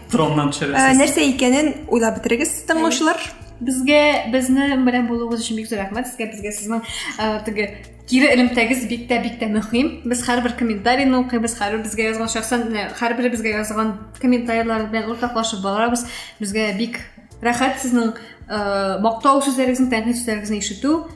Троннан төшерәсез. Нәрсә икәнен уйлап бетерегез, тыңлаучылар. Безгә безне белән булуыгыз өчен бик зур рәхмәт сезгә. Безгә сезнең теге кире элемтәгез бик тә бик тә мөһим. Без һәрбер комментарийны укыйбыз, һәрбер безгә язган шәхсән, һәрбер безгә язган комментарийлар белән уртаклашып барабыз. Безгә бик рәхәт сезнең мактау сүзләрегезне, тәнкыйть сүзләрегезне ишетү.